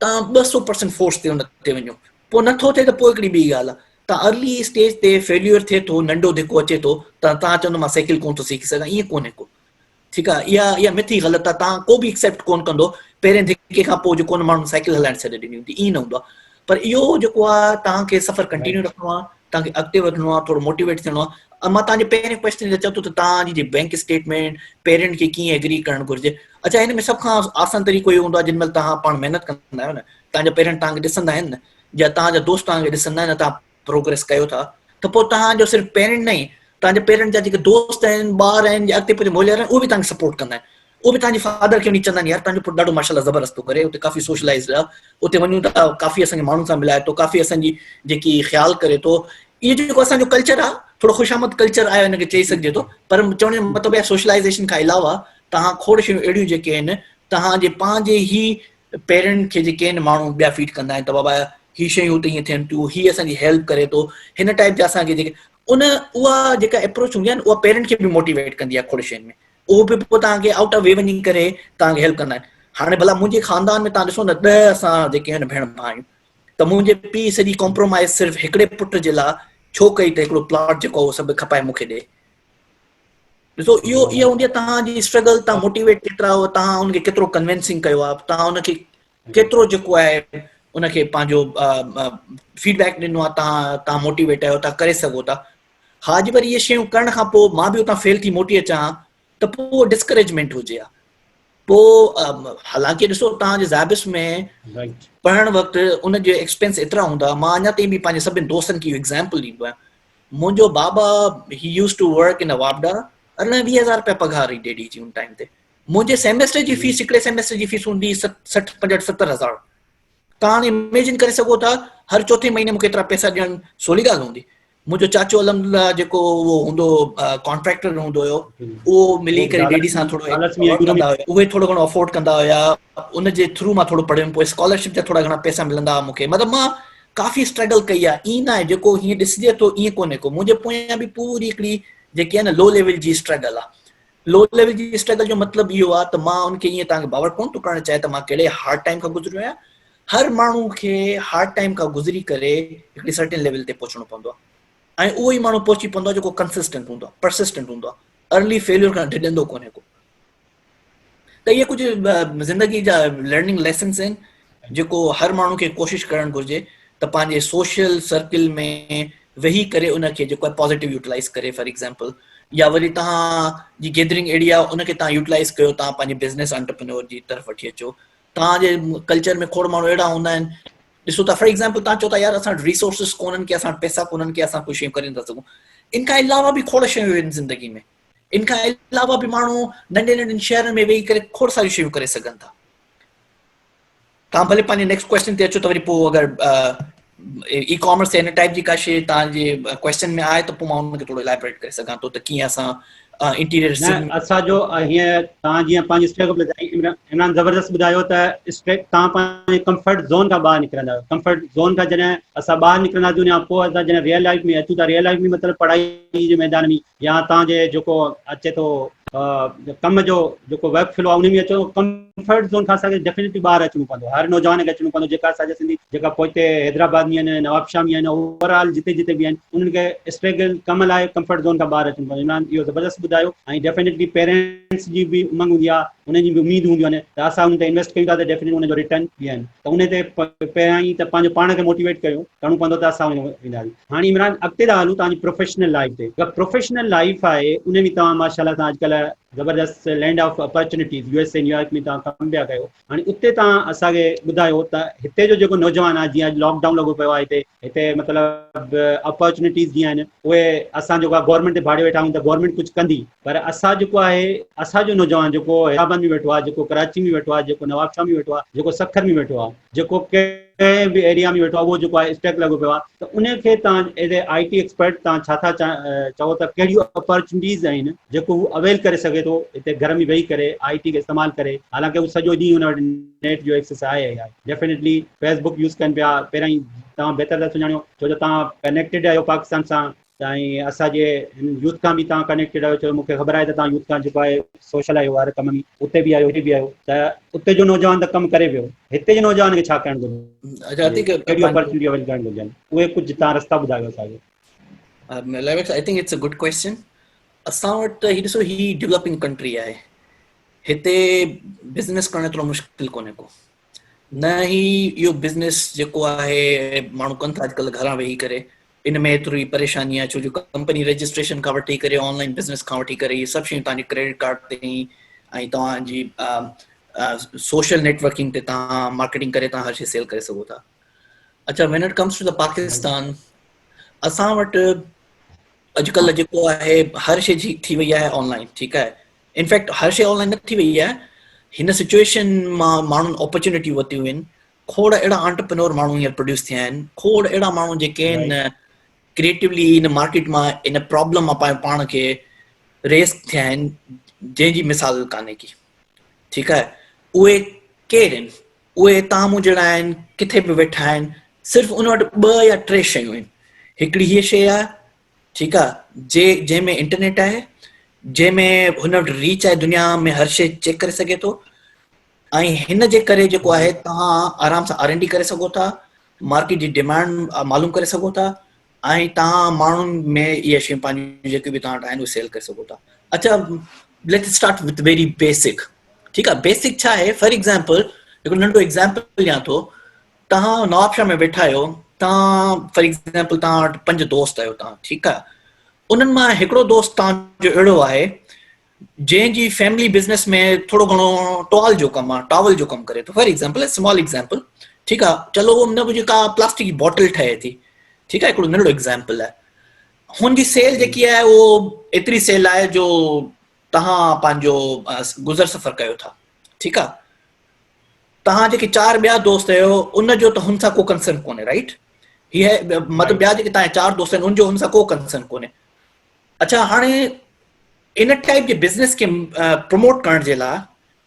توهان ٻه سؤ پرسنٽ فورس تي ان تي وڃو پوء نٿو ٿئي ته پوء هڪڙي ٻي ڳالهه آهي ته ارلي اسٽيج تي فيليور ٿئي ٿو ننڍو ڌڪو اچي ٿو ته توهان چوندو مان سائيڪل ڪونه ٿو سيکي سگهان ائين ڪونهي ڪو ٺيڪ آهي اها اها مٿ ئي غلط آهي توهان ڪو به اڪسيپٽ ڪونه ڪندو پهرين ڌڪي کان پوء جو ڪونه ماڻهن سائيڪل هلائڻ ڇڏي ڏني هوندي ائين نه هوندو آهي پر اهو جيڪو آهي توهان کي سفر ڪنٽينيو رکڻو آهي توهان کي اڳتي وڌڻو آهي ٿورو موٽيويٽ ٿيڻو آهي ۽ مان توهان جي پهرين ڪويسچن جي چوٿو ته توهان جي جي بينڪ اسٽيٽمينٽ پيرنٽ کي ڪيئن ايگري ڪرڻ گهرجي اچا هن ۾ سڀ کان آسان طريقو اهو هوندو آهي جن مهل توهان پاڻ محنت ڪندا آهيو نه توهان جا پيرنٽ توهان کي ڏسندا آهن نه جا توهان جا دوست توهان کي ڏسندا آهن توهان پروگريس ڪيو ٿا ته پوء توهان جو صرف پيرنٽ نه توهان جا پيرنٽ جا جيڪي دوست آهن ٻار آهن جي اڳتي پوء موليار آهن اهو به توهان کي سپورٽ ڪندا آهن اهو به تنهنجي فادر کي وڃي چوندائين يار تنهنجو پٽ ڏاڍو ماشاء الله زبردست ٿو ڪري اتي ڪافي سوشلائزڊ آ اتي وڃون ٿا ڪافي اسان کي ماڻهن سان ملائي ٿو ڪافي اسان جي جيڪي خيال ڪري ٿو اهو جيڪو اسان جو ڪلچر آ ٿورو خوش آمد ڪلچر آهي ان کي چئي سگهجي ٿو پر چوڻ جو مطلب آهي سوشلائزيشن کان علاوه تهان کوڙ شيون اهڙيون جيڪي آهن تهان جي پنهنجي هي پيرنٽ کي جيڪي آهن ماڻهو ٻيا فيڊ ڪندا آهن ته بابا هي شيون اتي ائين ٿين ٿيون هي اسان جي هيلپ ڪري ٿو هن ٽائپ جا اسان کي جيڪي ان اها جيڪا اپروچ هوندي آهي نه اها پيرنٽ کي به موٽيويٽ ڪندي آهي کوڙ شين ۾ اهو به پوء توهان کي آئوٽ آف وي وڃي ڪري توهان کي هيلپ ڪندا آهن هاڻي ڀلا منهنجي خاندان ۾ توهان ڏسو نه ڏهه اسان جيڪي آهن ڀيڻ ڀاء آهيون ته منهنجي پيء سڄي ڪامپرومائز صرف هڪڙي پٽ جي لاء ڇو ڪئي ته هڪڙو پلاٽ جيڪو هو سڀ کپائي مون کي ڏي ڏسو اهو اها هوندي آهي توهان جي اسٽرگل توهان موٽيويٽ ڪيترا هو توهان ان کي ڪيترو ڪنوينسنگ ڪيو آهي توهان ان کي ڪيترو جيڪو آهي ان کي پنهنجو فيڊ بيڪ ڏنو آهي تان تان موٽيويٽ آهيو تان ڪري سگهو ٿا ها اڄ وري اهي شيون ڪرڻ کان پوء مان به اتان فيل ٿي موٽي اچان ها ته پوء ڊسڪريجمنٽ هجي ها پوء حالانڪه ڏسو تان جي زابس ۾ پڙهڻ وقت ان جو ايڪسپيرينس ايترا هوندا مان اڃا تائين به پنهنجي سڀني دوستن کي ايگزامپل ڏيندو آهيان منهنجو بابا he use to work in واپڊا ارڙهن ويهه هزار روپيا پگهار هئي ڊيڊي جي ان ٽائيم تي منهنجي سيميسٽر جي فيس هڪڙي سيميسٽر جي فيس هوندي سٺ پنجهٺ ستر هزار تان هاڻي اميجن ڪري سگهو ٿا هر چوٿين مهيني مونکي ايترا پئسا ڏيڻ سولي ڳالهه هوندي منهنجو چاچو الحمدلله جيڪو اهو هوندو ڪانٽريڪٽر هوندو هيو اهو ملي ڪري ڊيڊي سان ٿورو اهي ٿورو گهڻو افورڊ ڪندا هيا ان جي ٿرو مان ٿورو پڙهيم پوء اسڪالرشپ جا ٿورا گهڻا پئسا ملندا هئا مونکي مطلب مان ڪافي اسٽرگل ڪئي آهي ائين ناهي جيڪو هيئن ڏسجي ٿو ائين ڪونهي ڪو منهنجي پويان به پوري هڪڙي جيڪي آهي نه لو ليول جي اسٽرگل آهي لو ليول جي اسٽرگل جو مطلب اهو آهي ته مان ان کي ايئن توهان کي باور ڪونه ٿو ڪرائڻ چاهيان ته مان ڪهڙي هارڊ ٽائيم کان گذريو آهيان هر ماڻهو کي هارڊ ٽائيم کان گذري ڪري هڪڙي سرٽن ليول تي پهچڻو پوندو آهي ۽ اهو ئي ماڻهو پهچي پوندو آهي جيڪو ڪنسسٽنٽ هوندو آهي پرسسٽنٽ هوندو آهي ارلي فيليور کان ڊڄندو ڪونهي ڪو ته اهي ڪجهه زندگي جا لرننگ ليسنس آهن جيڪو هر ماڻهو کي ڪوشش ڪرڻ گهرجي ته پنهنجي سوشل سرڪل ۾ ويهي ڪري ان کي جيڪو آهي پازيٽو يوٽلائز ڪري فار ايگزامپل يا وري توهان جي گيدرنگ اهڙي آهي ان کي توهان يوٽلائز ڪيو توهان پنهنجي بزنس انٽرپرينور جي طرف وٺي اچو توهان جي ڪلچر ۾ کوڙ ماڻهو اهڙا هوندا آهن ڏسو ٿا فار ايگزامپل توهان چو ٿا يار اسان ريسورسز ڪونن ڪي اسان پيسا ڪونن ڪي اسان ڪجهه شيون ڪري نٿا سگهون ان کان علاوه به کوڙ شيون آهن زندگي ۾ ان کان علاوه به ماڻهو ننڍي ننڍن شهرن ۾ ويهي ڪري کوڙ ساريون شيون ڪري سگهن ٿا توهان ڀلي پنهنجي نيڪسٽ ڪويشچن تي اچو ته وري پوء اگر اي ڪامرس تي ان ٽائپ جي ڪا شيء توهان جي ڪويشچن ۾ آهي ته پوء مان ان کي ٿورو الابريٽ ڪري سگهان ٿو ته ڪيئن اسان انٽيريئر اسان جو هيئن توهان جيئن پنهنجي اسٽيپ ٻڌائي عمران زبردست ٻڌايو ته اسٽيپ توهان پنهنجي ڪمفرٽ زون کان ٻاهر نڪرندا آهيو ڪمفرٽ زون کان جڏهن اسان ٻاهر نڪرنداسون يا پوء اسان جڏهن ريئل لائف ۾ اچون ٿا ريئل لائف ۾ مطلب پڙهائي جي ميدان ۾ يا تان جي جيڪو اچي ٿو ڪم جو جيڪو ويب فلو آ انهي ۾ اچو ڪمفرٽ زون کان اسان کي ڊيفنيٽلي ٻاهر اچڻو پوندو هر نوجوان کي اچڻو پوندو جيڪا اسان جا سنڌي جيڪا پوئتي حيدرآباد ۾ آهن نوابشاهه ۾ آهن اوور آل جتي جتي به آهن انهن کي اسٽرگل ڪم لاء ڪمفرٽ زون کان ٻاهر اچڻو پوندو عمران اهو زبردست ٻڌايو ۽ ڊيفنيٽلي پيرنٽس جي به امنگ هوندي آ انهن جي به اميد هونديون آهن ته اسان انهن تي انويسٽ ڪيون ٿا ته ڊيفنيٽلي ان جو ريٽرن ڏين ته انهي تي پهريائين ته پنهنجو پاڻ کي موٽيويٽ ڪريو ڪرڻو پوندو ته اسان وينداسين هاڻي عمران اڳتي ٿا هلون توهانجي پروفيشنل لائيف تي جيڪا پروفيشنل لائيف آهي ان ۾ توهان ماشاء الله توهان اڄڪلهه زبردست land of opportunities U S A New York ۾ توهان ڪم پيا ڪيو هاڻي اتي توهان اسان کي ٻڌايو ته هتي جو جيڪو نوجوان آهي جيئن اڄ لاڪ ڊائون لڳو پيو آهي هتي هتي مطلب اپرچونيٽيز جيئن آهن اهي اسان جيڪو آهي گورنمينٽ تي ڀاڙيو ويٺا آهيون ته گورنمينٽ ڪجهه ڪندي پر اسان جيڪو آهي اسان جو نوجوان جيڪو حيدرآباد ۾ ويٺو آهي جيڪو ڪراچي ۾ ويٺو آهي جيڪو نواب شاهه ۾ ويٺو آهي جيڪو سکر ۾ ويٺو آهي جيڪو ڪنهن به ايريا ۾ ويٺو آهي اهو جيڪو آهي اسٽيڪ لڳو پيو آهي ته ان کي تان as a I T expert تان ڇا ٿا چئو ته ڪهڙيون اپارچونٽيز آهن جيڪو هو اويل ڪري سگهي ٿو هتي گهر ۾ ويهي ڪري آئي ٽي کي استعمال ڪري حالانڪه هو سڄو ڏينهن هن وٽ نيٽ جو ايڪسس آهي آهي ڊيفينيٽلي فيسبوڪ يوز ڪن پيا پهريائين توهان بهتر ٿا سڃاڻيو ڇو جو توهان ڪنيڪٽيڊ آهيو پاڪستان سان سائين اسان جي هن يوٿ کان به توهان ڪنيڪٽيڊ آهيو ڇو مون کي خبر آهي ته توهان يوٿ کان جيڪو آهي سوشل آهيو هر ڪم ۾ اتي به آهيو هتي به آهيو ته اتي جو نوجوان ته ڪم ڪري پيو هتي جي نوجوان کي ڇا ڪرڻ گهرجي ڪهڙي اپرچونٽي اويل ڪرڻ گهرجن اهي ڪجهه تان رستا ٻڌايو اسان کي Lavex, I think it's a good question. اسان وٽ هي ڏسو هي ڊيولپنگ ڪنٽري آهي هتي بزنس ڪرڻ ايترو مشڪل ڪونهي ڪو نه هي اهو بزنس جيڪو آهي ماڻهو ڪن ٿا اڄڪلهه گهران ويهي ڪري ان ۾ ايتري پريشاني آهي ڇو جو ڪمپني رجسٽريشن کان وٺي ڪري آن لائن بزنس کان وٺي ڪري هي سڀ شيون تنهنجي ڪريڊٽ ڪارڊ تي ۽ توهان جي سوشل نيٽورڪنگ تي تان مارڪيٽنگ ڪري تان هر شي سيل ڪري سگهو ٿا اچھا when it comes to the Pakistan اسان وٽ اڄڪلهه جيڪو آهي هر شي جي ٿي وئي آهي آن لائن ٺيڪ آهي ان فيڪٽ هر شيء آنلائن نه ٿي وئي آهي هن سچويشن مان ماڻهن اپرچونٽي وتيون آهن کوڙ اهڙا آنٽرپرنور ماڻهو هينئر پروڊيوس ٿيا آهن کوڙ اهڙا ماڻهو جيڪي آهن ڪريئيٽولی ان مارڪيٽ مان ان پرابلم مان پنهنجو پاڻ کي ريس ٿيا آهن جنهن جي مثال ڪانهي ڪي ٺيڪ آهي اهي ڪير آهن اهي تان مون جهڙا آهن ڪٿي به ويٺا آهن صرف ان وٽ ٻه يا ٽي شيون آهن هڪڙي هيء شيء آهي ٺيڪ آ جي جنهن ۾ انٽرنيٽ آهي جنهن ۾ هن وٽ ريچ آهي دنيا ۾ هر شيء چيڪ ڪري سگهي ٿو ۽ هن جي ڪري جيڪو آهي توهان آرام سان آر اين ڊي ڪري سگهو ٿا مارڪيٽ جي ڊيمانڊ معلوم ڪري سگهو ٿا ۽ توهان ماڻهن ۾ اهي شيون پنهنجون جيڪي به توهان وٽ آهن اهي سيل ڪري سگهو ٿا اچا let start with very basic ٺيڪ آ بيسڪ ڇا آهي فار ايگزامپل هڪ ننڍو ايگزامپل ڏيان ٿو تهان نواب شاهه ۾ ويٺا آهيو تهان فار ايگزامپل تهان وٽ پنج دوست آهيو تهان ٺيڪ آهي انهن مان هڪڙو دوست تهان جو اهڙو آهي جنهن جي فيملي بزنس ۾ ٿورو گهڻو ٽوال جو ڪم آهي ٽاول جو ڪم ڪري ٿو فار ايگزامپل اسمال ايگزامپل ٺيڪ آهي چلو ان ۾ ڪا پلاسٽڪ جي بوٽل ٺهي ٿي ٺيڪ آهي هڪڙو ننڍڙو ايگزامپل آهي هن جي سيل جيڪي آهي اهو ايتري سيل آهي جو تهان پنهنجو گذر سفر ڪيو ٿا ٺيڪ آهي توهان جيڪي چار ٻيا دوست آهيو ان جو ته هن سان ڪو ڪنسرن ڪونهي رائٽ هي مطلب ٻيا جيڪي توهان چار دوست آهن ان جو هن سان ڪو ڪنسرن ڪونهي اچھا هاڻي ان ٽائپ جي بزنس کي پروموٽ ڪرڻ جي لاء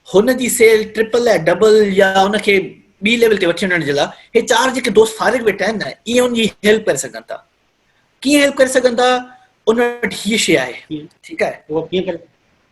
هن جي سيل ٽرپل ۽ ڊبل يا ان کي ٻي ليول تي وٺي وڃڻ جي لاء هي چار جيڪي دوست فارغ ويٺا آهن نه اهي ان جي هيلپ ڪري سگھن ٿا ڪيئن هيلپ ڪري سگھن ٿا ان وٽ هي شي آهي ٺيڪ آهي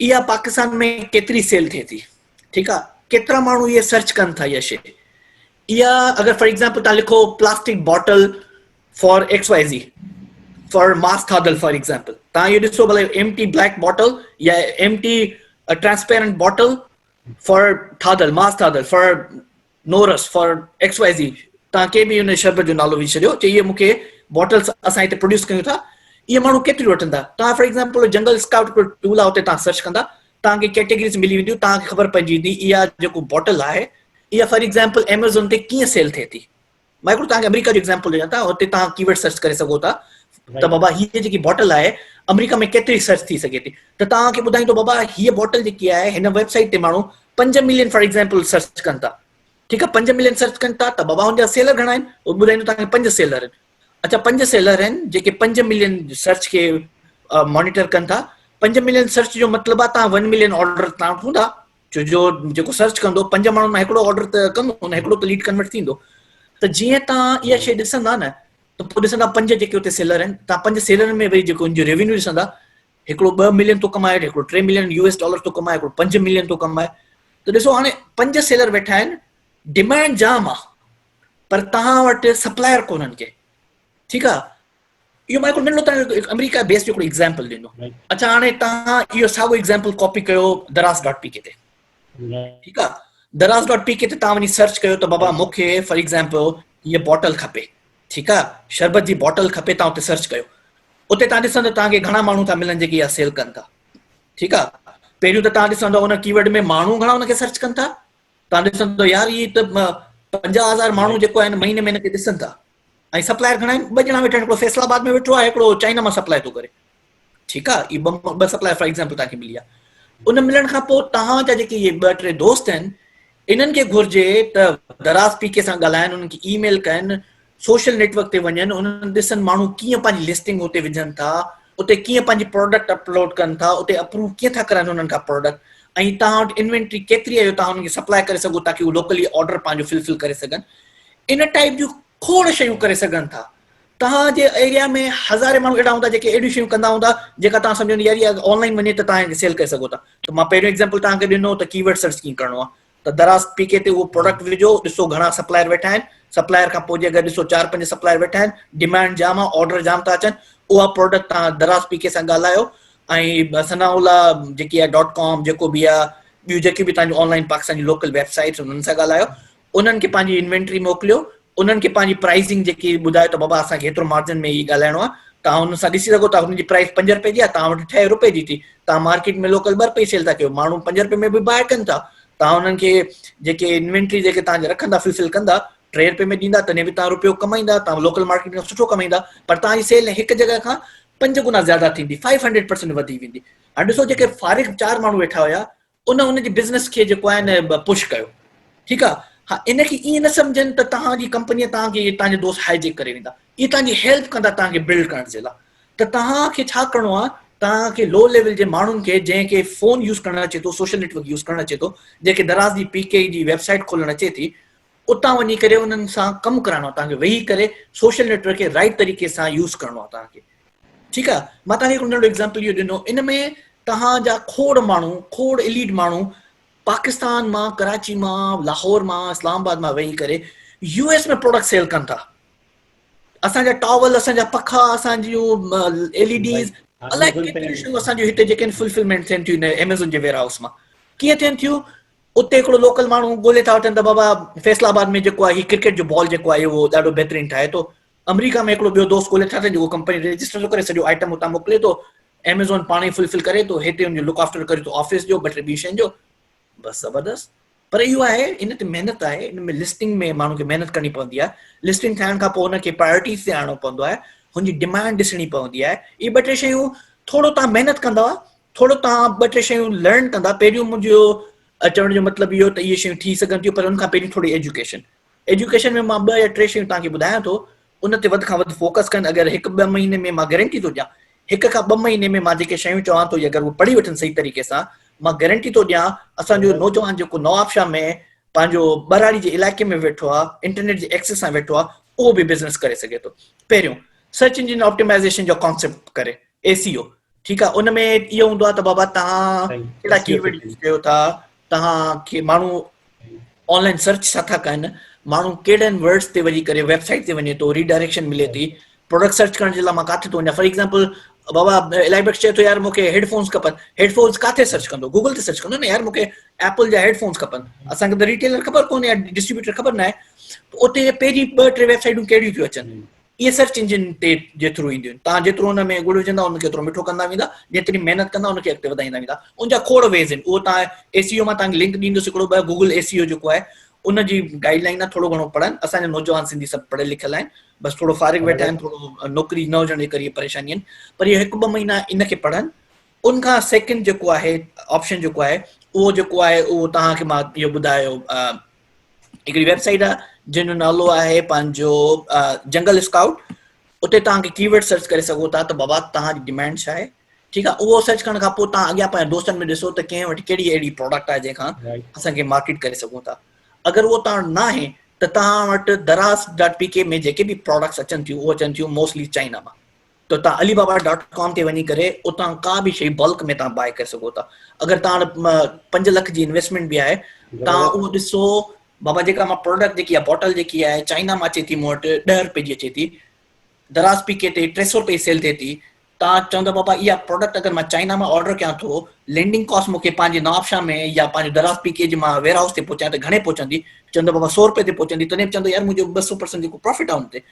اها پاڪستان ۾ ڪيتري سيل ٿئي ٿي ٺيڪ آ ڪيترا ماڻهو اهي سرچ ڪن ٿا اها شي اها اگر فار ايگزامپل تان لکو plastic bottle for X Y Z for mass ٿادل فار ايگزامپل تان اهو ڏسو بھلي ايم ٽي بليڪ باٽل يا empty transparent bottle for ٿادل ماس ٿادل فار نورس فار ايڪس وائي زي تان ڪنهن به ان شربت جو نالو وجهي ڇڏيو چي اهي مون کي باٽلس اسان هتي پروڊيوس ڪيون ٿا اهي ماڻهو ڪيتريون وٺندا توهان فار ايگزامپل جنگل اسڪائوٽ پيو ٽول آهي اتي تان سرچ ڪندا توهان کي ڪيٽيگريز ملي وينديون توهان کي خبر پئجي ويندي اها جيڪو باٽل آهي اها فار ايگزامپل ايميزون تي ڪيئن سيل ٿئي ٿي مان هڪڙو توهان کي آمريڪا جو ايگزامپل ڏيان ٿا اتي توهان ڪي ورڊ سرچ ڪري سگهو ٿا ته بابا هي جيڪي بوٽل آهي آمريڪا ۾ ڪيتري سرچ ٿي سگهي ٿي ته توهان کي ٻڌائيندو بابا هي بوٽل جيڪي آهي هن ويب سائيٽ تي ماڻهو پنج ملين فار ايگزامپل سرچ ڪن ٿا ٺيڪ آهي پنج ملين سرچ ڪن ٿا ته بابا هن جا سيلر گهڻا آهن اهو ٻڌائيندو توهان کي پنج سيلر آهن اچا پنج سيلر آهن جيڪي پنج ملين سرچ کي مانيٽر ڪن ٿا پنج ملين سرچ جو مطلب آهي توهان ون ملين آرڊر تان وٺو ٿا ڇو جو جيڪو سرچ ڪندو پنج ماڻهن مان هڪڙو آرڊر ته ڪندو نه هڪڙو ته ليڊ ڪنورٽ ٿيندو ته جيئن تان اها شيء ڏسندا نه ته پوء ڏسندا پنج جيڪي اتي سيلر آهن تان پنج سيلرن ۾ وري جيڪو ان جو ريونيو ڏسندا هڪڙو ٻه ملين ٿو ڪمائي هڪڙو ٽي ملين يو ايس ڊالر ٿو ڪمائي هڪڙو پنج ملين ٿو ڪمائي ته ڏسو هاڻي پنج سيلر ويٺا آهن ڊيمانڊ جام آهي پر تان وٽ سپلائر ڪونهن ڪي ٺيڪ آهي اهو مائيڪل منرو تان هڪ آمريڪا بيس جو هڪڙو ايگزامپل ڏنو اچا هاڻي تان اهو ساڳو ايگزامپل ڪاپي ڪيو دراز ڊاٽ پي ڪي تي ٺيڪ آ دراز ڊاٽ پي ڪي تي تان وڃي سرچ ڪيو ته بابا مونکي فار ايگزامپل هي بوٽل کپي ٺيڪ آ شربت جي بوٽل کپي تان اتي سرچ ڪيو اتي تان ڏسندو تان کي گهڻا ماڻهو ٿا ملن جيڪي اها سيل ڪن ٿا ٺيڪ آ پهريون ته تان ڏسندو ان ڪيورڊ ۾ ماڻهو گهڻا ان کي سرچ ڪن ٿا تان ڏسندو يار هي ته 50000 ماڻهو جيڪو آهن مهيني مهيني کي ڏسن ٿا ۽ سپلائر گهڻا آهن ٻه ڄڻا ويٺا آهن هڪڙو فيصل آباد ۾ ويٺو آهي هڪڙو چائنا مان سپلائي ٿو ڪري ٺيڪ آهي هي ٻه سپلائر فار ايگزامپل تان کي ملي آهي ان ملڻ کان پوء تان جا جيڪي هي ٻه ٽي دوست آهن انهن کي گهرجي ته دراز پي ڪي سان ڳالهائن انهن کي اي ميل ڪن سوشل نيٽ ورڪ تي وڃن انهن ڏسن ماڻهو ڪيئن پنهنجي لسٽنگ اتي وجهن ٿا اتي ڪيئن پنهنجي پروڊڪٽ اپلوڊ ڪن ٿا اتي اپروو ڪيئن ٿا ڪرن انهن کان پروڊڪٽ ۽ تان وٽ انوينٽري ڪيتري آهي تان انهن کي سپلائي ڪري سگهو تاڪي هو لوڪلي آرڊر پنهنجو فلفل ڪري سگهن ان ٽائيپ جون کوڙ شيون ڪري سگهن ٿا. توهان جي ايريا ۾ هزارين ماڻهو اهڙا هوندا جيڪي اهڙيون شيون ڪندا هوندا جيڪا توهان سمجهو يار اها آن لائين وڃي ته توهان سيل ڪري سگهو ٿا ته مان پهريون ايگزامپل توهان کي ڏنو ته ڪيورڊ سرچ ڪيئن ڪرڻو آهي ته دراز پي ڪي تي اهو پروڊڪٽ وجهو ڏسو گهڻا سپلائر ويٺا آهن سپلائر کان پوء جي اگر ڏسو چار پنج سپلائر ويٺا آهن ڊيمانڊ جام آهي آرڊر جام ٿا اچن اها پروڊڪٽ توهان دراز پي ڪي سان ڳالهايو ۽ ثناء الله جيڪي ڊاٽ ڪام جيڪو بي آ ٻيون جيڪي به تنهنجو آن لائن پاڪستان جي لوڪل ويب سائيٽس انهن سان ڳالهايو انهن کي پنهنجي انوينٽري موڪليو انهن کي پنهنجي پرائيزنگ جيڪي ٻڌايو ته بابا اسان کي هيترو مارجن ۾ هي ڳالهائڻو آهي توهان انهن سان ڏسي سگهو ٿا هنن جي پرائيز پنج رپئي جي آهي توهان وٽ ٺهي رپئي جي ٿي توهان مارڪيٽ ۾ لوڪل ٻه رپئي سيل ٿا ڪيو ماڻهو پنج رپئي ۾ به باء ڪن ٿا توهان انهن کي جيڪي انوينٽري جيڪي توهان رکندا فلفل ڪندا ٽي رپئي ۾ ڏيندا تڏهن به توهان رپيو ڪمائيندا توهان لوڪل مارڪيٽ کان سٺو ڪمائيندا پر توهان جي سيل هڪ جڳهه کان پنج گنا زياده ٿيندي فائيو هنڊريڊ پرسنٽ وڌي ويندي هاڻي ڏسو جيڪي فارغ چار ماڻهو ويٺا هيا ان ان جي بزنس کي جيڪو آهي نه پش ڪيو ٺيڪ آهي ها ان کي ائين نه سمجهن ته توهان جي ڪمپني توهان کي توهان جا دوست هائي جيڪ ڪري ويندا اي توهان جي هيلپ ڪندا توهان کي بلڊ ڪرڻ جي لاء ته توهان کي ڇا ڪرڻو آهي توهان کي لو ليول جي ماڻهن کي جنهن کي فون يوز ڪرڻ اچي ٿو سوشل نيٽ ورڪ يوز ڪرڻ اچي ٿو جنهن کي دراز جي پي ڪي جي ويب سائيٽ کولڻ اچي ٿي اتان وڃي ڪري انهن سان ڪم ڪرائڻو آهي توهان کي ويهي ڪري سوشل نيٽ ورڪ کي رائٽ طريقي سان يوز ڪرڻو آهي توهان کي ٺيڪ آهي مان توهان کي هڪڙو ننڍو ايگزامپل اهو ڏنو ان ۾ توهان جا کوڙ ماڻهو کوڙ اليڊ ماڻهو پاڪستان مان ڪراچي مان لاهور مان اسلام آباد مان ويهي ڪري يو ايس ۾ پروڊڪٽ سيل ڪن ٿا اسان جا ٽاول اسان جا پکا اسان جون ايل اي ڊيز الائي ڪيتريون شيون اسان جون هتي جيڪي فلفلمينٽ ٿين ٿيون ايميزون جي ويئر هائوس مان ڪيئن ٿين ٿيون اتي هڪڙو لوڪل ماڻهو ڳولي ٿا وٺن ته بابا فيصل آباد ۾ جيڪو آهي هي ڪرڪيٽ جو بال جيڪو آهي اهو ڏاڍو بهترين ٺاهي ٿو آمريڪا ۾ هڪڙو ٻيو دوست ڳولي ٿا وٺن جيڪو ڪمپني رجسٽر ٿو ڪري سڄو آئٽم اتان موڪلي ٿو ايميزون پاڻ ئي فلفل ڪري ٿو هتي ان جو لڪ آفٽر ڪري ٿو آفيس جو ٻه ٽي ٻي شين جو بس زبردست پر اهو آهي ان تي محنت آهي ان ۾ لسٽنگ ۾ ماڻهو کي محنت ڪرڻي پوندي آهي لسٽنگ ٺاهڻ کان پوء ان کي پرائرٽيز تي آڻڻو پوندو آهي هن جي ڊيمانڊ ڏسڻي پوندي آهي اهي ٻه ٽي شيون ٿورو تان محنت ڪندو ٿورو توهان ٻه ٽي شيون لرن ڪندا پهريون منهنجو چوڻ جو مطلب اهو ته اهي شيون ٿي سگهن ٿيون پر ان کان پهرين ٿوري ايجوڪيشن ايجوڪيشن ۾ مان ٻه يا ٽي شيون تان کي ٻڌايان ٿو ان تي وڌ کان وڌ فوڪس ڪن اگر هڪ ٻه مهيني ۾ مان گارنٽي ٿو ڏيان هڪ کان ٻه مهيني ۾ مان جيڪي شيون چوان ٿو اگر هو پڙهي وٺن صحيح طريقي سان مان گارنٽي ٿو ڏيان اسان جو نوجوان جيڪو نواب شاهه ۾ پنهنجو ٻهراڙي جي علائقي ۾ ويٺو آ انٽرنيٽ جي ايڪسس سان ويٺو آ اهو به بزنس ڪري سگهي ٿو پهريون سرچ انجن آپٽيمائزيشن جو ڪانسيپٽ ڪري اي سي او ٺيڪ آ ان ۾ اهو هوندو آ ته بابا تهان ڪهڙا ڪي ورڊ يوز ڪيو ٿا تهان کي ماڻهو آن لائن سرچ ڇا ٿا ڪن ماڻهو ڪهڙن ورڊز تي وڃي ڪري ويب سائيٽ تي وڃي ٿو ري ڊائريڪشن ملي ٿي پروڊڪٽ سرچ ڪرڻ جي لاء مان ڪاٿي ٿو وڃان فار ايگزامپل بابا الائي بخش چئي ٿو يار مونکي هيڊفونس کپن هيڊفونس ڪاٿي سرچ ڪندو گوگل تي سرچ ڪندو نه يار مونکي ايپل جا هيڊفونس کپن اسانکي ته ريٽيلر خبر ڪونهي يا ڊسٽريبيوٽر خبر نه آهي اتي پهرين ٻه ٽي ويب سائيٽون ڪهڙيون ٿيون اچن اهي سرچ انجن تي جي ٿرو اينديون آهن توهان جيترو ان ۾ ڳڙ وجهندا ان کي اوترو مٺو ڪندا ويندا جيتري محنت ڪندا ان کي اڳتي وڌائيندا ويندا ان جا کوڙ ويز آهن اهو توهان اي سي او مان توهان کي لنڪ ڏيندس هڪڙو ٻه گوگل اي سي او جيڪو آهي ان جي گائيڊ لائن آهي ٿورو گهڻو پڙهن اسان جا نوجوان سنڌي سڀ پڙهيل لکيل آهن بس ٿورو فارغ ويٺا آهن ٿورو نوڪري نه هجڻ جي ڪري پريشاني آهن پر اهي هڪ ٻه مهينا ان کي پڙهن ان کان سيڪنڊ جيڪو آهي آپشن جيڪو آهي اهو جيڪو آهي اهو توهان کي مان اهو ٻڌايو هڪڙي ويب سائيٽ آهي جنهن جو نالو آهي پنهنجو جنگل اسڪائوٽ اتي توهان کي ڪيورڊ سرچ ڪري سگهو ٿا ته بابا توهان جي ڊيمانڊ ڇا آهي ٺيڪ آهي اهو سرچ ڪرڻ کان پوء توهان اڳيان پنهنجا دوستن ۾ ڏسو ته ڪنهن وٽ ڪهڙي اهڙي پروڊڪٽ آهي جنهن کان اسان کي مارڪيٽ ڪري سگهون ٿا اگر اهو توهان وٽ ناهي ته توهان وٽ دراز ڊاٽ پي ڪي ۾ جيڪي به پروڊڪٽس اچن ٿيون اهو اچن ٿيون موسٽلي چائنا مان ته توهان علي بابا ڊاٽ ڪام تي وڃي ڪري اتان ڪا به شيء بلڪ ۾ توهان بائي ڪري سگهو ٿا اگر توهان پنج لک جي انويسٽمينٽ به آهي توهان اهو ڏسو بابا جيڪا مان پروڊڪٽ جيڪي آهي بوٽل جيڪي آهي چائنا مان اچي ٿي مون وٽ ڏهه روپئي جي اچي ٿي دراز پي ڪي تي ٽي سو روپئي سيل ٿئي ٿي توهان چوندا بابا اها پروڊڪٽ اگر مان چائنا مان آرڊر ڪيان ٿو لينڊنگ ڪاسٽ مون کي پنهنجي نوابشاهه ۾ يا پنهنجو دراز پي ڪي جي مان ويئر هائوس تي پهچايان ته گهڻي پهچندي چوندا بابا سو روپئي تي پهچندي تڏهن به چوندو يار منهنجو ٻه سو پرسنٽ جيڪو پرافٽ آهي ان تي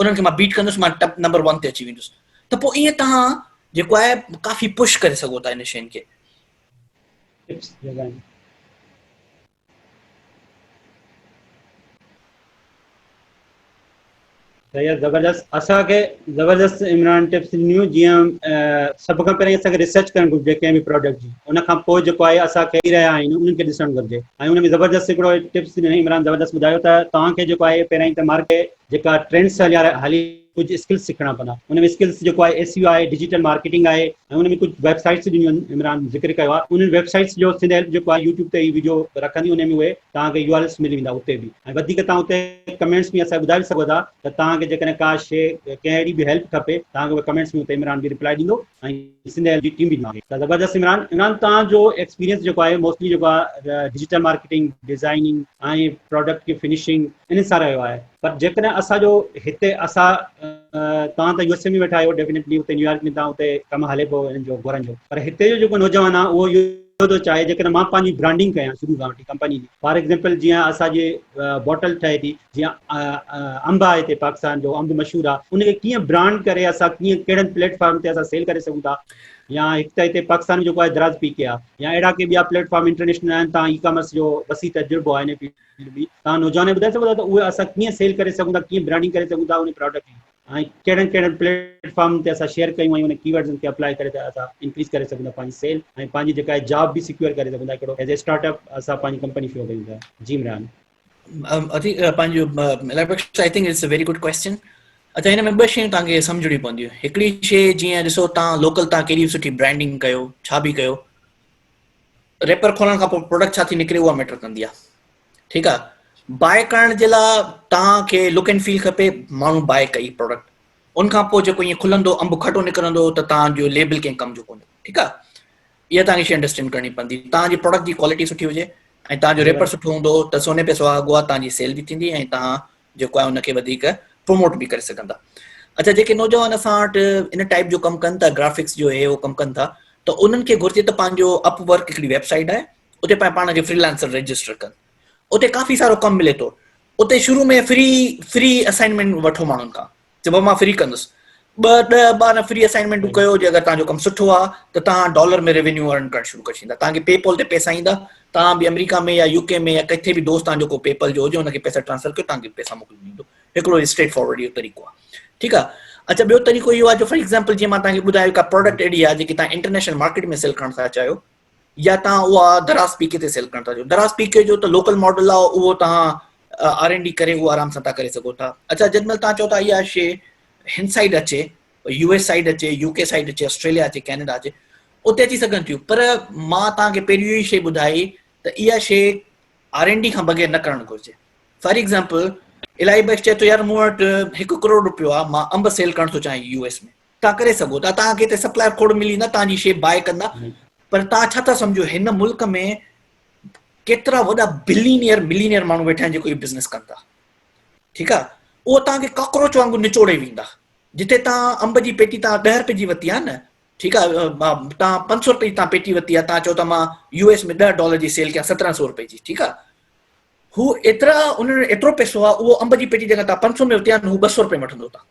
انهن کي مان بيٽ ڪندس مان ٽپ نمبر ون تي اچي ويندس ته پوء ائين توهان جيڪو آهي ڪافي پش ڪري سگهو ٿا ان شين کي زبردست اسان کي زبردست عمران ٽپس ڏنيون جيئن سڀ کان پهرين اسان کي ريسرچ ڪرڻ گهرجي ڪنهن به پروڊڪٽ جي ان کان پوء جيڪو آهي اسان کي ڪري رهيا آهيون انهن کي ڏسڻ گهرجي ۽ ان ۾ زبردست هڪڙو ٽپس ڏنو عمران زبردست ٻڌايو ته توهان کي جيڪو آهي پهريائين ته مارڪيٽ جيڪا ٽرينڊس سان هليا هلي ڪجهه اسڪلس سکڻا پوندا ان ۾ اسڪلس جيڪو آهي ايس اي او آهي ڊجيٽل مارڪيٽنگ آهي ۽ ان ۾ ڪجهه ويب سائيٽس ڏنيون آهن عمران ذڪر ڪيو آهي انهن ويب سائيٽس جو سنڌ هيلپ جيڪو آهي يوٽيوب تي هي ويڊيو رکندي ان ۾ اهي توهان کي يو آر ايلس ملي ويندا اتي به ۽ وڌيڪ توهان اتي ڪمينٽس ۾ اسان ٻڌائي سگهو ٿا ته توهان کي جيڪڏهن ڪا شيء ڪنهن اهڙي به هيلپ کپي توهان کي اهي ڪمينٽس ۾ اتي عمران به ريپلائي ڏيندو ۽ سنڌ ايل جي ٽيم به آهي ته زبردست عمران عمران توهان جو ايڪسپيرينس جيڪو آهي موسٽلي جيڪو آهي ڊجيٽل مارڪيٽنگ ڊزائننگ ۽ پراڊڪٽ جي فنشنگ ان سان رهيو آهي پر جيڪڏهن اسان جو هتي اسان توهان ته يو ايس اي ۾ ويٺا آهيو ڊيفينيٽلي اتي نيويارڪ ۾ توهان اتي ڪم هلي پيو انهن جو گهرن جو پر هتي جو جيڪو نوجوان آهي اهو اهو ٿو چاهي جيڪڏهن مان پنهنجي برانڊنگ ڪيان شروع کان وٺي ڪمپني جي فار ايگزامپل جيئن اسان جي بوٽل ٺهي ٿي جيئن انب آهي هتي پاڪستان جو انب مشهور آهي ان کي ڪيئن برانڊ ڪري اسان ڪيئن ڪهڙن پليٽ فارم تي اسان سيل ڪري سگهون ٿا يا هڪ ته هتي پاڪستان جو آهي دراز پي ڪي آ يا اهڙا ڪي ٻيا پليٽ فارم انٽرنيشنل آهن تان اي ڪامرس جو وسيع تجربو آهي ان فيلڊ ۾ تان نوجوان ٻڌائي سگهو ٿا ته اهي اسان ڪيئن سيل ڪري سگهون ٿا ڪيئن برانڊنگ ڪري سگهون ٿا ان پروڊڪٽ جي ۽ ڪهڙن ڪهڙن پليٽ فارم تي اسان شيئر ڪيون ۽ ان ڪي ورڊز تي اپلائي ڪري ته اسان انڪريز ڪري سگهون ٿا پنهنجي سيل ۽ پنهنجي جيڪا جاب به سيڪيور ڪري سگهون ٿا هڪڙو ايز اي اسٽارٽ اپ اسان پنهنجي ڪمپني شروع ڪيون ٿا جي عمران اٿي پنهنجو election I think it's a very good question اچا هن ۾ ٻه شيون تان کي سمجھڻي پونديون هڪڙي شي جيئن ڏسو تان لوڪل تان ڪيڏي سٺي برانڊنگ ڪيو ڇا به ڪيو ريپر کولڻ کان پوء پروڊڪٽ ڇا ٿي نڪري اها ميٽر ڪندي آهي ٺيڪ آهي باء ڪرڻ جي لاء تان کي لوڪ اينڊ فيل کپي ماڻهو باء ڪئي پروڊڪٽ ان کان پوء جيڪو ائين کلندو انب کٽو نڪرندو ته تان جو ليبل ڪنهن ڪم جو ڪونه ٺيڪ آهي اها توهان کي شي انڊرسٽينڊ ڪرڻي پوندي توهان جي پروڊڪٽ جي ڪوالٽي سٺي هجي ۽ توهان جو ريپر سٺو هوندو ته سوني پي سوا اڳوا توهان جي سيل به ٿيندي ۽ توهان جيڪو آهي ان کي وڌيڪ پروموٽ به ڪري سگهندا اچا جيڪي نوجوان اسان وٽ ان ٽائپ جو ڪم ڪن ٿا گرافڪس جو هي هو ڪم ڪن ٿا ته انهن کي گهرجي ته پنهنجو اپ ورڪ هڪڙي ويب سائيٽ آهي اتي پنهنجو پاڻ کي فريلانسر رجسٽر ڪن اتي ڪافي سارو ڪم ملي ٿو اتي شروع ۾ فري فري اسائنمنٽ وٺو ماڻهن کان چئبو آهي مان فري ڪندس ٻه ڏهه ٻارهن فري اسائنمينٽون ڪيو جي اگر تهانجو ڪم سٺو آهي ته تهان ڊالر ۾ ريونيو ارن ڪرڻ شروع ڪري ڇڏيندا تهان کي پي پول تي پيسا ايندا تهان به آمريڪا ۾ يا يو ڪي ۾ يا ڪٿي به دوست تهانجو ڪو پي پل جو هجي ان کي پيسا ٽرانسفر ڪيو تهان کي پيسا موڪلي ڏيندو هڪڙو اسٽريٽ فارورڊ اهو طريقو آهي ٺيڪ آهي اچھا ٻيو طريقو اهو آهي جو فار ايگزامپل جيئن مان تهان کي ٻڌايو ڪا پروڊڪٽ اهڙي آهي جيڪي تهان انٽرنيشنل مارڪيٽ ۾ سيل ڪرڻ ٿا چاهيو يا توهان اها دراز پي ڪي تي سيل ڪرڻ ٿا چاهيو دراز پي ڪي جو ته لوڪل ماڊل آهي اهو توهان آر اين ڊي ڪري اهو آرام سان تان ڪري سگهو ٿا اڇا جڏهن مهل توهان چئو ٿا اها شي هن سائيڊ اچي يو ايس سائيڊ اچي يو ڪي سائيڊ اچي آسٽريليا اچي ڪينيڊا اچي اتي اچي سگهن ٿيون پر مان توهان کي پهريون اهي شي ٻڌائي ته اها شي آر اين ڊي کان بغير نه ڪرڻ گهرجي فار ايگزامپل الائي بخش چئي ٿو يار مون وٽ هڪ ڪروڙ روپيو آهي مان انب سيل ڪرڻ ٿو چاهيان يو ايس ۾ توهان ڪري سگهو ٿا توهان کي هتي سپلائر کوڙ ملي ويندا توهان جي شي باء ڪندا پر توهان ڇا ٿا سمجهو هن ملڪ ۾ ڪيترا وڏا بلينيئر ملينيئر ماڻهو ويٺا آهن جيڪو هي بزنس ڪن ٿا ٺيڪ آهي اهو توهان کي ڪاڪروچ وانگر نچوڙي ويندا جتي توهان انب جي پيٽي توهان ڏهه رپي جي ورتي آهي نه ٺيڪ آهي توهان پنج سؤ رپي جي توهان پيٽي ورتي آهي توهان چئو ٿا مان يو ايس ۾ ڏهه ڊالر جي سيل ڪيان سترهن سؤ رپي جي ٺيڪ آهي هو ايترا انهن ايترو پيسو آهي اهو انب جي پيٽي جيڪا توهان پنج سؤ ۾ ورتي آهي هو ٻه سؤ رپي وٺندو توهان